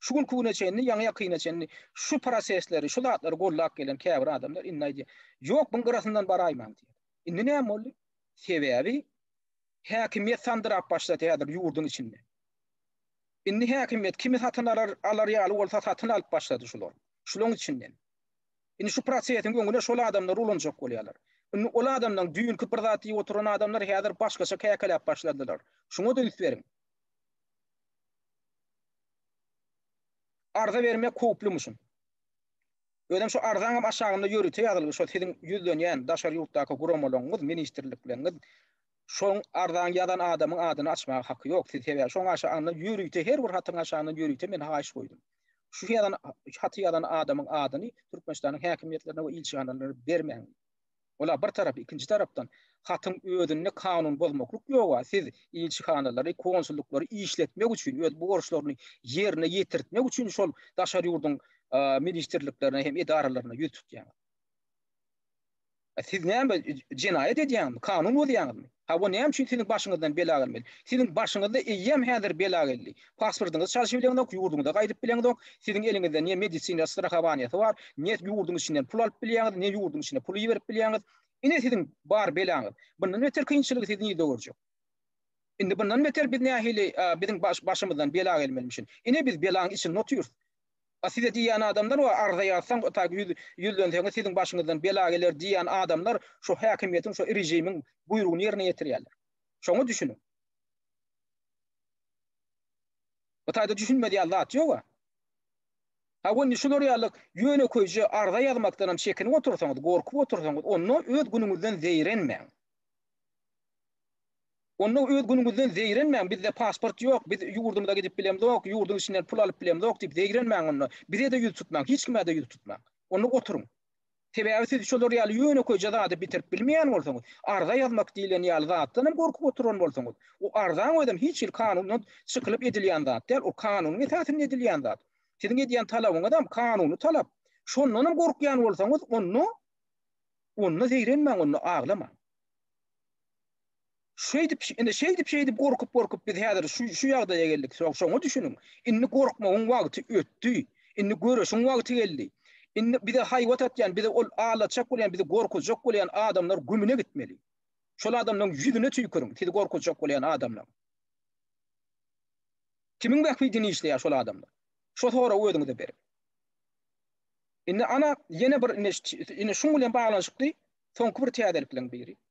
Şu günki güne çenli, ýaňy-ýakyna çenli şu prosesleri, şu zatlary goldap gelen käbir adamlar indi aýdýar, ýok, buň gyrasyndan baraýmaň diýýär. Indi näme boldy? Sebäbi, Häkimiýet sandyrap başlady häzir ýurduň içinde. Indi häkimiýet kimi satyn alar, alar ýaly bolsa satyn alyp başlady şular. Şulaň içinden. Indi şu prosesiň öňüne şol adamlar ulanjak bolýarlar. Indi ol adamlaň düýnki bir zat diýip oturan adamlar häzir başgaça käkeläp başladylar. Şuňa-da üns beriň. Arza bermek howplymyşyn. Özem şu arzaňam aşagynda ýörite ýazylgy şo siziň ýüzlenýän daşary ýurtdaky guramalaňyz ministrlikleňiz şoň arzaň ýazan adamyň adyny açmaga haky ýok siz sebäbi şoň aşa anda ýörite her bir hatyň aşagyndan ýörite men haýyş goýdum şu ýazan haty ýazan adamyň adyny türkmenistanyň häkimiýetlerine we ilçihanalara bermäň. Ola bir tarap, ikinji tarapdan, hatyň özünde kanun bozmaklyk ýoga, siz ilçihanalary, konsullyklary işletmek üçin, öz borçlaryny ýerine ýetirtmek üçin şol daşary ýurduň ministrliklerine hem edaralaryna ýüz tutýaňyz. Siz näme jenaýat edýäňizmi, kanun bozýaňyzmy? Hawa, näme üçin siziň başyňyzdan bela gelmeli? Siziň başyňyzda eýýäm häzir bela geldi. Pasportyňyzy çalşyp bileňizok, ýurduňyza gaýdyp bileňizok. Siziň eliňizde ne medisina strahowaniýasy bar, ne ýurduň içinden pul alyp bilýäňiz, ne ýurduň içine pul iberip bilýäňiz. Ine siziň bar belaňyz. Bundan beter kynçylygy siz nirde görjek? Indi bundan beter biz nähili biziň başymyzdan bela gelmelimişin? Ine biz belaň içinde otyrys. A size diýýän adamlar we arza ýazsaň we taýk ýüz ýüzlenseňiz siziň başyňyzdan bela geler diýýän adamlar şu häkimiýetiň şu režimiň buýrugyny ýerine ýetirýärler. Şoňa düşüniň. Bu taýda düşünmedýän zat ýoga. Ha we indi şular ýaly ýönekeýje arza ýazmakdanam çekinip otursaňyz, gorkup otursaňyz onda öz günüňizden zeýrenmäň. Onda öz günüňizden zeýrenmäň, bizde pasport ýok, biz ýurdumyza gidip bilemzok, ýurduň içinden pul alyp bilemzok diýip zeýrenmäň onda, bize-de ýüz tutmaň, hiç kime-de ýüz tutmaň. Onda oturyň. Sebäbi siz şolar ýaly ýönekeýje zady bitirip bilmeýän bolsaňyz, arza ýazmak diýlen ýaly zatdan hem gorkup oturan bolsaňyz, o arzaň özem hiç hili kanundan çykylyp edilýän zat däl, ol kanunyň esasynda edilýän zat. Siziň edýän talabyňyzam kanuny talap. Şondan hem gorkýan bolsaňyz, onda onda zeýrenmäň, onda aglamaň. Şeýdip, indi şeýdip, şeýdip gorkup, gorkup biz häzir şu şu ýagdaýa geldik. Soň şoňa düşüniň. Indi gorkmagyň wagty ötdi. Indi göreşiň wagty geldi. Indi bize haýbat atýan, bize ol alatjak bolýan, bizi gorkuzjak bolýan adamlar gümüne gitmeli. Şol adamlaryň ýüzüne tüýküriň, sizi gorkuzjak bolýan adamlar. Kimiň bähbidini işleýär şol adamlar? Şo soragy özüňize beriň. Indi ana ýene bir indi indi şuň bilen baglanyşykly soňky bir täzelikleň biri.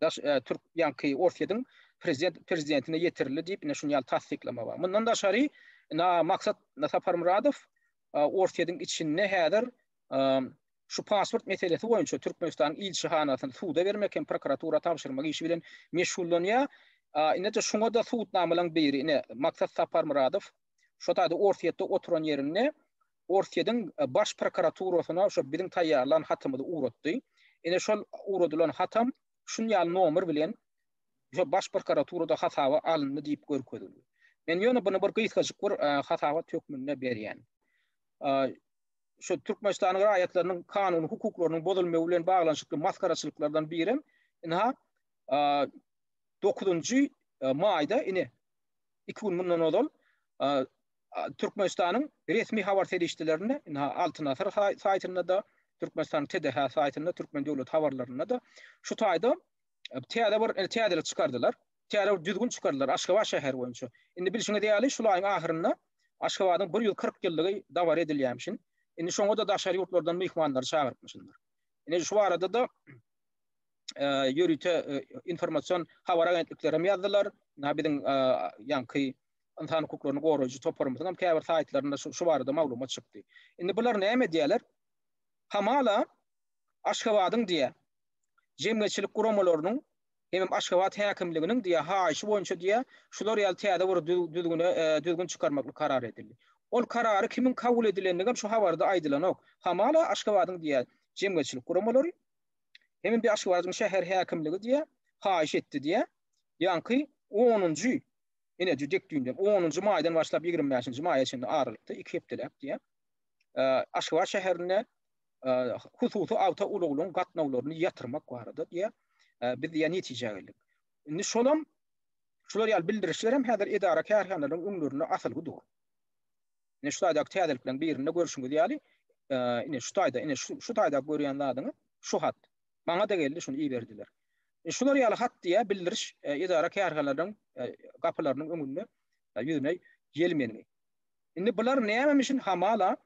daş türk ýaňky Orsýediň prezident prezidentine ýetirildi diýip ine şuny ýaly tassyklama bar. Mundan daşary na maksat Saparmyradow Orsýediň içinde häzir şu pasport meselesi boýunça Türkmenistanyň ilçihanasyny suda bermek hem prokuratura tabşyrmak işi bilen meşgullanýar. Ine-de şuňa da subutnamalaryň biri ine maksat Saparmyradow şo taýda Orsýetde oturan ýerinde Orsýetiň Baş prokuraturasyna şo biziň taýýarlan hatymyzy ugratdy. Ine şol ugradylan hatam şun ýaly nomer bilen şo Baş prokuraturada hasaba alyndy diýip görkezildi. Men ýöne buny bir gysgajyk bir hasabat hökmünde berýän. Şo Türkmenistanyň raýatlarynyň kanuny hukuklarynyň bozulmagy bilen baglanyşykly masgaraçylyklardan birem ynha dokuzynjy maýda ine iki gün mundan ozal Türkmenistanyň resmi habar serişdelerinde, ynha, Altyn Asyr saýtynda-da, Türkmenistanyň TDH saýtynda, Türkmen döwlet habarlarynda-da şu taýda täze bir täzelik çykardylar. Täze bir düzgün çykardylar Aşgabat şäheri boýunça. Indi bilşiňiz ýaly, şul aýyň ahyrynda Aşgabadyň bir ýüz kyrk ýyllygy dabara edilýämişin. Indi şoňa-da daşary ýurtlardan myhmanlary çagyrypmyşynlar. Ine, şu barada-da ýörite informasion habar agentliklerem ýazdylar. Ynha, biziň ýaňky ynsan hukuklaryny goraýjy toparymyzyň hem käbir saýtlarynda şu barada maglumat çykdy. Indi bular näme edýärler? Hamala Aşgabadyň diýä jemgyýetçilik guramalarynyň hemem Aşgabat häkimliginiň diýä haýyşy boýunça diýä şular ýaly täze bir düzgüne e, düzgün çykarmaklyk karar edildi. Ol karary kimiň kabul edilendigi hem şu habarda aýdylanok. Hamala Aşgabadyň diýä jemgyýetçilik guramalary hemem bir Aşgabadyň şäher häkimligi diýä haýyş etdi diýä. Ýaňky 10-njy Ine, jüdek düýnden, onunjy maýdan başlap ýigrimi bäşinji maýa çenli aralykda, iki hepdeläp diýýär. Aşgabat şäherinde hususy awto ulaglaryň gatnawlaryny ýatyrmak barada diýýär. Biz diýýär netijä geldik. Indi şolam şular ýaly bildirişler hem häzir edara-kärhanalaryň öňlerinde asylgy dur. Ine şu taýdaky täzelikleriň birinde görşüňiz ýaly, ine şu taýda, ine şu taýda görýän zadyňyz şu hat. Maňa-da geldi, şuny iberdiler. Şular ýaly hat diýä bildiriş edara-kärhanalaryň gapylarynyň öňünde ýüzüne ýelmendi. Indi bular nämemişin hamala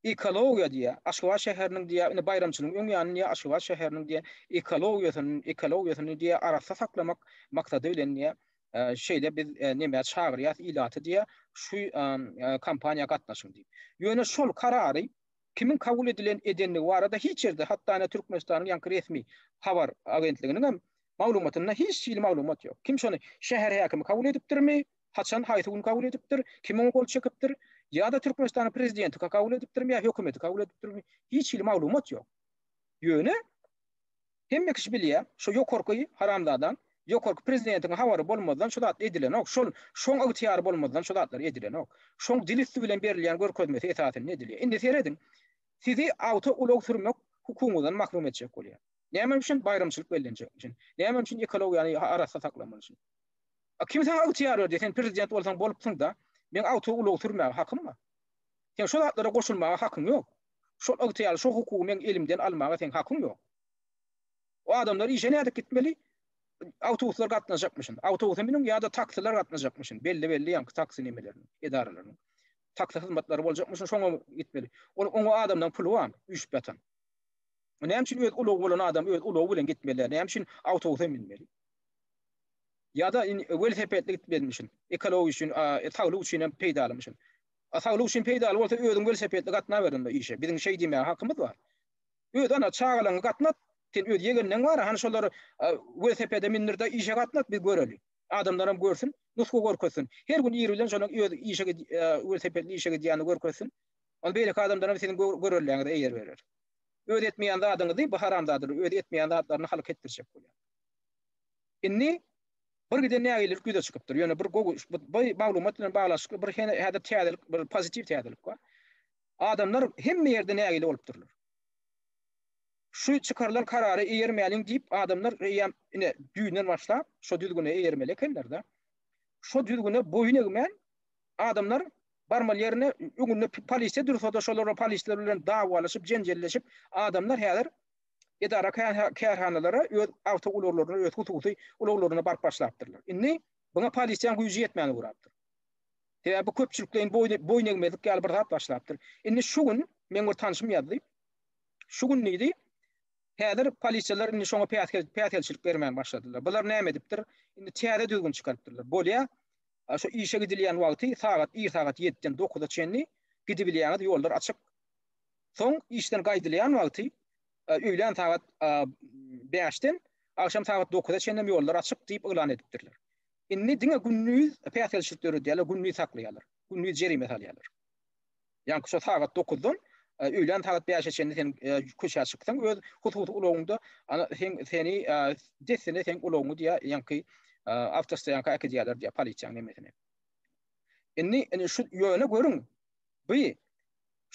ekologiýa diýä, Aşgabat şäheriniň diýä, indi baýramçylygyň öň ýanyny diýä, Aşgabat şäheriniň diýä ekologiýasyny, ekologiýasyny diýä arassa saklamak maksady bilen diýä, şeýle biz nämä çagyrýas ilaty diýä, şu kampaniýa gatnaşyň diýip. Ýöne şol karary kimiň kabul edilen edendigi barada hiç ýerde, hatda ine Türkmenistanyň ýaňky resmi habar agentliginiň hem maglumatynda hiç hili maglumat ýok. Kim şony şäher häkimi kabul edipdirmi, haçan, haýsy gün kabul edipdir, kim oňa gol çekipdir, ýa-da Türkmenistanyň prezidenti kabul edipdirmi ýa hökümeti kabul edipdirmi, hiç hili maglumat ýok. Ýöne. Hemme kişi bilýär, şu ýokarky haramzadaň, ýokarky prezidentiň habary bolmazdan şu zat edilenok, şol, şoň ygtyýary bolmazdan şu zatlar edilenok. Şoň dil üsti bilen berilýän görkezmesi esasynda edilýär. Indi serediň, sizi awto ulag sürmek hukugyňyzdan mahrum etjek bolýar. Näme üçin? Baýramçylyk bellenjek üçin. Näme üçin? Ekologiýany arassa saklamaly üçin. A kim saňa ygtyýar berdi? Sen prezident bolsaň bolupsyň-da, meň awto ulagy sürmäge hakym bar. Seň şu zatlara goşulmaga hakyň ýok. Şol ygtyýarly, şo hukugy meň elimden almaga seň hakyň ýok. O adamlar işe nädip gitmeli? Awtobuslar gatnajakmyşyn. Awtobusa miniň ýa-da taksiler gatnajakmyşyn. Belli belli ýaňky taksi nemeleriniň, edaralarynyň. Taksi hyzmatlary boljakmyşyn, şoňa gitmeli. Ol oňa adamlaryň puly bar, üýşüp ýatan. Näme üçin öz ulagy bolan adam öz ulagy bilen gitmeli, näme üçin awtobusa münmeli? Ýa-da welosipedli gitmezmişin. Ekologiýa üçin, saglyk üçin hem peýdalymyşyn. A saglyk üçin peýdaly bolsa özüň welosipedli gatnaber onda işe. Biziň şeý diýmäge hakymyz bar. Öz ana çagalaňy gatnat. Sen öz ýegenleň bar, hany şolary welosipede mindirde işe gatnat biz göreli. Adamlaram görsün, nusga görkezsin. Her gün ir bilen şonuň öz işe welosipedli işe gidýänini görkezsin. Onda beýleki adamlaram siziň göreldäňize eýer berer. Öz etmeýän zadyňyzy bu haramzadalar öz etmeýän zatlaryny halka etdirjek bolýar. Indi Birgiden nägilelik ýüze çykypdyr. Ýöne bir gowy bu maglumat bilen baglanyşykly bir häzir täzelik, bir pozitiw täzelik bar. Adamlar hemme ýerde nägile bolup durlar. Şu çykarylan karara eýermäliň diýip adamlar eýýäm ine düýnden başlap şo düzgüne eýermeli ekenler-de. Şo düzgüne boýun egmän adamlar barmaly ýerine öňünde polisiýa dursa-da şolar polisiýa bilen dawalaşyp, jenjelleşip adamlar häzir edara kärhanalara öz awto ulaglaryny öz hususy ulaglaryny baryp başlapdyrlar. Indi buna polisiýaň güýji ýetmän ugrapdyr. Sebäbi bu köpçülikleýin boýun egmezlik ýaly bir zat başlapdyr. Indi şu gün meň bir tanşym ýazdy. Şu gün diýdi, häzir polisiýalar indi şoňa päsgelçilik bermän başladylar. Bular näme edipdir? Indi täze düzgün çykarypdyrlar. Bolýa, şu işe gidilýän wagty sagat ir sagat 7-den 9-a çenli gidibilýäňiz, ýollar açyk. Soň işden gaýdylýan wagty öýlän sagat bäşden agşam sagat dokuza çenlem ýollar açyk diýip yglan edipdirler. Indi diňe gündiz päsgelçilik döredýärler, gündiz saklaýarlar, gündiz jerime salýarlar. Ýagny şo sagat dokuzdan öýlän sagat bäşe çenli sen köçä çyksaň öz hususy ulagyňda sen seni dessine sen ulagyňy diýä ýaňky awtostoýanka äkidýärler diýä polisiýanyň hemmesini. Indi indi şu ýöne görüň bu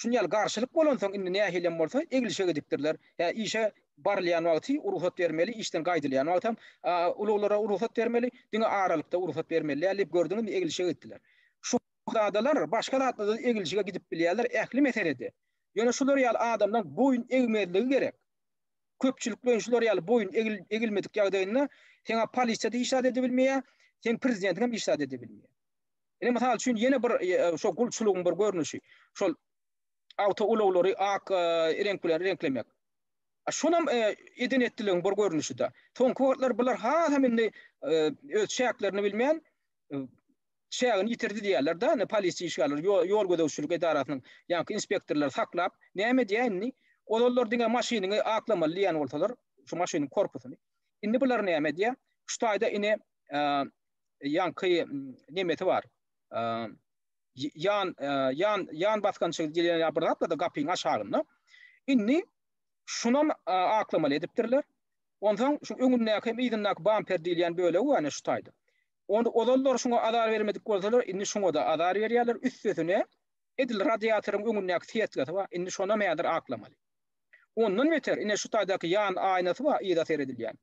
Şuny ýaly garşylyk bolansoň indi nähilem bolsa eglişe gidipdirler. Hä işe barylýan wagty rugsat bermeli, işden gaýdylýan wagtam uluglara rugsat bermeli, diňe aralykda rugsat bermeli däl diýip gördüňizmi eglişe gitdiler. Şuhzadalar başga zatda-da eglişige gidip bilýärler ähli meselede. Ýöne şular ýaly adamlaň boýun egmezligi gerek. Köpçülikleýin şular ýaly boýun egilmedik ýagdaýynda seň-ä polisiýa-da iş zat edebilmeýär, seň prezidentiňem iş zat edebilmeýär. Ine, mysal üçin, ýene bir şo gulçulygyň bir görnüşi, şol awtoulaglary ak reňk bilen reňklemek. Şonam eden etdiligiň bir görnüşi-de. Soňky wagtlar bular hasam indi öz çäklerini bilmän, çägini ýitirdi diýýärler-de, indi polisiýa işgärleri, ýol gözegçilik edarasynyň ýaňky inspektorlary saklap, näme edýär indi? Ozallar diňe maşynyňy aklamaly diýen bolsalar, şu maşynyň korpusyny. Indi bular näme edýär? Şu taýda ine ýaňky nemesi bar. Ýan ýan ýan basgançy diýen ýa bir zat bar-da gapyň aşagynda. Indi şunam aklamaly edipdirler. Onsoň şu öňündäki hem yzyndaky bamper diýilýän bölegi bar şu taýda. Onda ozallar şuňa azar bermedik bolsalar, indi şuňa-da azar berýärler. Üstesine edil radiatoryň öňündäki sýetgesi bar. Indi şonam häzir aklamaly. Ondan beter, ine şu taýdaky ýan aýnasy bar, yza seredilýän.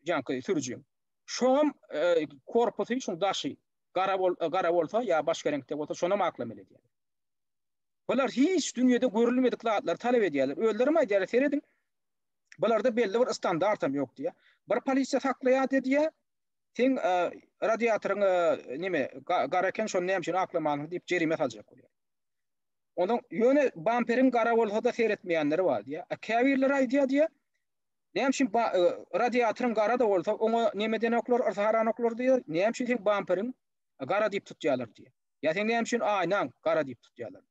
janky sürüji. Şoňam e, korpusy şuň daşy gara bol e, gara bolsa ýa başga reňkde bolsa şonam aklameli edýär. Bular hiç dünýede görülmedik zatlar talep edýärler. Özleri mi aýdýarlar, serediň. Bularda belli bir standart hem ýok diýýär. Bir polisiýa saklaýar diýýär. Sen e, radiatoryň e, näme gara eken şony näme üçin aklamalyň diýip jerime saljak bolýar. Ondan ýöne bamperiň gara bolsa da seretmeýänleri bar diýýär. Käbirleri aýdýar diýýär. Näme üçin ba radiatoryň gara-da bolsa, oňa neme denoklar, yrsaharanoklar diýer, näme üçin seň bamperiň gara diýip tutýarlar diýer. Ýa seň näme üçin aýnaň gara diýip tutýarlar.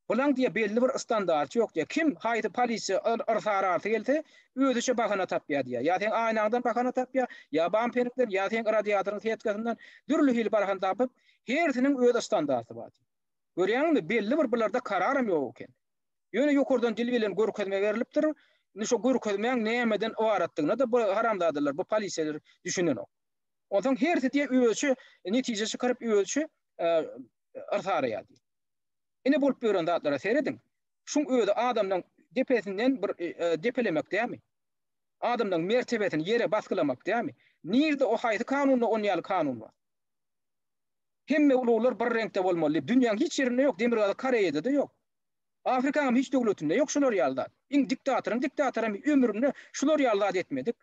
Bulaň diýer belli bir standarty ýok diýer. Kim haýsy polisiýa yr yrsaharasy gelse, özüçe bahana tapýar diýer. Ýa seň aýnaňdan bahana tapýar, ýa bamperiňden, ýa seň radiatoryň setkasyndan dürli hili barhan tapyp, hersiniň öz standarty bar. Görýäňmi, belli bir bularda kararam ýok eken. Ýöne ýokardan dil bilen görkezme berlipdir. Indi şo görkezmäň nämeden ybaratdygyna-da bu haramzadalar, bu polisiýalar düşünenok. Onsoň hersi diýýär özüçe netije çykaryp, özüçe yrs araýar diýip. Ine bolup ýören zatlara serediň. Şuň özi adamlaryň depesinden bir depelemek dälmi? Adamlaryň mertebesini ýere basgylamak dälmi? Nirde o haýsy kanunda on ýaly kanun bar? Hemme uluglar bir reňkde bolmaly diýip, dünýäň hiç ýerinde ýok, Demirgazyk Koreýada-da ýok. Afrikanyň hiç döwletinde ýok şular ýaly zat. Iň diktatoryň diktatory hem ömründe şular ýaly zat etmedik.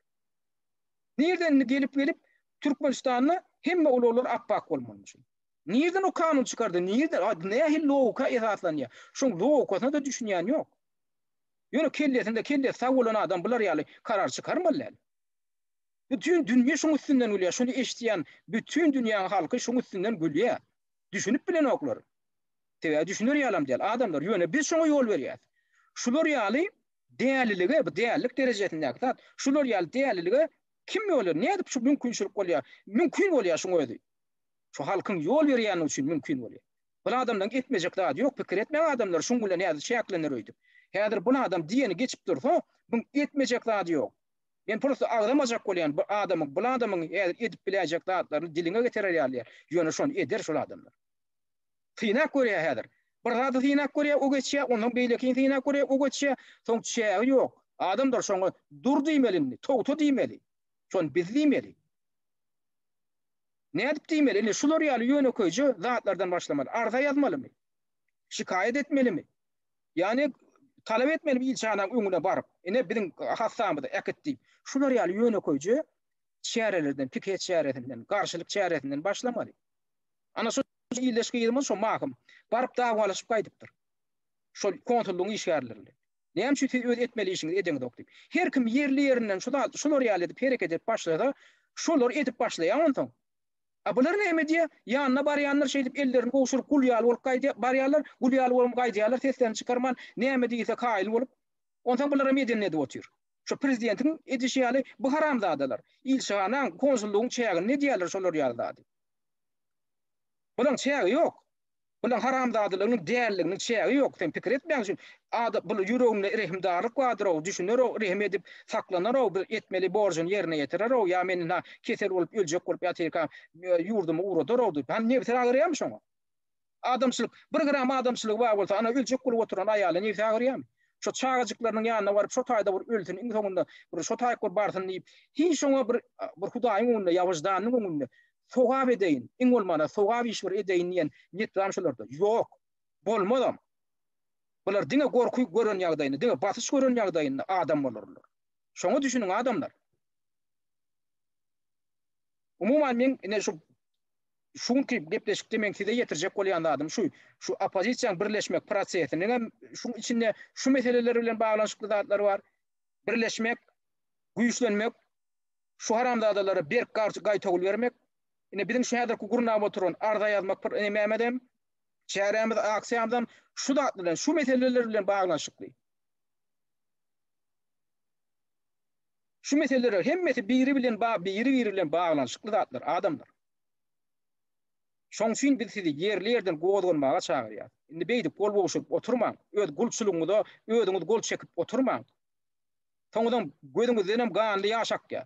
Nirden indi gelip gelip Türkmenistanda hemme ulaglar ap-ak bolmalymy şul? Nirden o kanun çykardy? Nirden? A nähili logika esaslanýar? Şoň logikasyna-da düşünýän ýok. Ýöne kellesinde kellesi sag bolan adam bular ýaly karar çykarmaly däl. Bütin dünýe şuň üstünden gülýär. Şuny eşitýän bütin dünýäň halky şuň üstünden gülýär. Düşünip bilenoklar. Sebäbi düşüner ýalam däl adamlar, ýöne biz şoňa ýol berýäs. Şular ýaly dälilige, bu dälilik derejesindäki zat, şular ýaly dälilige kim ýol nädip şu mümkinçilik bolýar? Mümkin bolýar şuň özi. Şu halkyň ýol berýänligi üçin mümkin bolýar. Bul adamlaryň etmejek zady ýok, pikir etmeň adamlar şuň bilen nädip çäklener öýdüp. Häzir bul adam diýeni geçip dursa, buň etmejek zady ýok. Men prosta agzamajak bolýan bu adamyň, bul adamyň häzir edip biläýjek zatlaryny diliňe getirer ýaly däl. Ýöne şony eder şol adamlar. Synap görýär häzir. Bir zady synap görýär, o geçýär, ondan beýlekini synap görýär, o geçýär. Soň çägi ýok. Adamdyr şoňa dur diýmeli indi, togta diýmeli. Şony biz diýmeli. Nädip diýmeli? Indi şular ýaly ýönekeýje zatlardan başlamaly. Arza ýazmalymy? Şikaýat etmelimi? Ýani talap etmelimi ilçihananyň öňüne baryp, ine biziň hassamyzy äkit diýip. Şular ýaly ýönekeýje çärelerden, pikeýt çäresinden, garşylyk çäresinden başlamaly. Ana şo ildeş gyzymyz şo mahym baryp dawalaşyp gaýdypdyr. Şol konsullygyň işgärleri bilen. Näme üçin siz öz etmeli işiňizi edeňizok diýip. Her kim ýerli ýerinden şu zat şular ýaly edip hereket edip başlasa şolar edip başlaýar onsoň. A bular näme edýär? Ýanyna barýanlar şeýdip ellerini gowşuryp gul ýaly bolup gaýdýar barýarlar, gul ýaly bolup gaýdýarlar seslerini çykarman näme diýilse kaýyl bolup. Onsoň bular hem edenini edip otyr. Şo prezidentiň edişi ýaly bu haramzadalar ilçihanaň, konsullygyň çäginde edýärler şolar ýaly zady. Bulaň çägi ýok. Bulaň haramzadalygynyň dälliginiň çägi ýok. Sen pikir etmäň şu ada bul ýüreginde rehimdarlyk bardyr-ow, düşüner-ow, rehim edip saklanar-ow, bir etmeli borjuny ýerine ýetirer-ow, ýa men indi kesel bolup öljek bolup ýatyrkam ýurdumy ugradar-ow diýip. Hany nebsi agyrýamy şoňa? Adamçylyk, bir gram adamçylygy bar bolsa, ana öljek bolup oturan aýaly nebsi agyrýamy? Şo çagajyklarynyň ýanyna baryp, şo taýda bir ölsün, iň soňunda bir şo taýyk bir barsyn diýip, hiç oňa bir bir Hudaýyň öňünde, ýa wyždanynyň öňünde sogap edeýin, iň bolmanda sogap iş bir edeýin diýen niýet barmy şolarda? Ýok. Bolmazam. Bular diňe gorky gören ýagdaýynda, diňe basyş gören ýagdaýynda adam bolarlar. Şoňa düşüniň adamlar. Umuman men ine şu şu günki gepleşikde meň size ýetirjek bolýan zadym şu, şu oppozisiýanyň birleşmek prosesiniň hem şuň içinde şu meseleler bilen baglanyşykly zatlary bar. Birleşmek, güýçlenmek, şu haramzadalara berk garşy gaýtawul bermek. Ine biziň şu häzirki gurnap oturan arza ýazmak pr nememiz hem, çärämiz, aksiýamyz hem şu zat bilen, şu meseleler bilen baglanyşykly. Şu meseleler hemmesi biri bilen ba biri-biri bilen baglanyşykly zatlar, adamlar. Şoň üçin biz sizi ýerli ýerden gozganmaga çagyrýas. Indi beýdip gol gowşuryp oturmaň, öz gulçulygyňyza özüňiz gol çekip oturmaň. Soňuzam gözüňizdenem ganly ýaş akýar.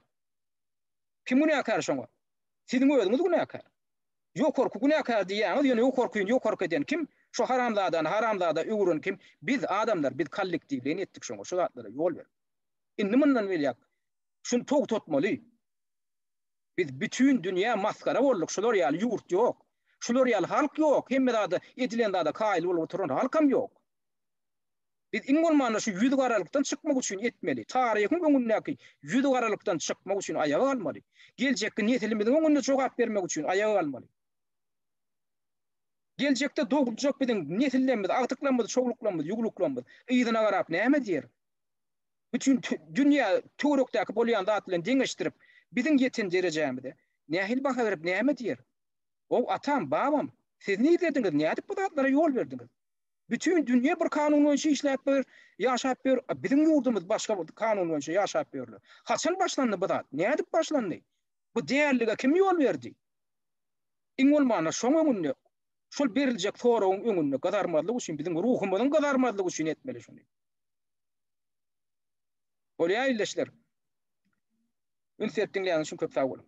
Kim günäkär şoňa? Siziň özüňiz günäkär. Ýokarky günäkär diýýäňiz, ýöne ýokarkyny ýokarky eden kim? Şu haramzadany haramzada öwüren kim? Biz, adamlar, biz kollektiwleýin etdik şoňa, şu zatlara ýol berip. Indi mundan belýak şuny togtatmaly. Biz bütin dünýä masgara bolduk, şular ýaly ýurt ýok. Şular ýaly halk ýok, hemme zada edilen zada kaýyl bolup oturan halkam ýok. Biz iň bolmanda şu ýüz garalykdan çykmak üçin etmeli. Taryhyň öňündäki ýüz garalykdan çykmak üçin aýaga galmaly. Geljekki nesilimiziň öňünde jogap bermek üçin aýaga galmaly. Geljekde dogluljak biziň nesillerimiz, agtyklarymyz, çowluklarymyz, ýugluklarymyz yzyna garap näme diýer? üçin dünýä töwerekdäki bolýan zat bilen deňeşdirip, biziň ýeten derejämize nähili baha berip, näme diýer? Ow, atam, babam, siz nirdeldiňiz, nädip bu zatlara ýol berdiňiz? Bütin dünýä bir kanun boýunça işläp ýör, ýaşap ýör, a biziň ýurdumyz başga bir kanun boýunça ýaşap ýörler. Haçan başlandy bu zat? Nädip başlandy? Bu dällige kim ýol berdi? Iň bolmanda şoň öňünde, şol beriljek soragyň öňünde gyzarmazlyk üçin, biziň ruhumyzyň gyzarmazlygy üçin etmeli şuny. Bolýa ildeşler. Üns berip diňleýäniz üçin köp sag boluň.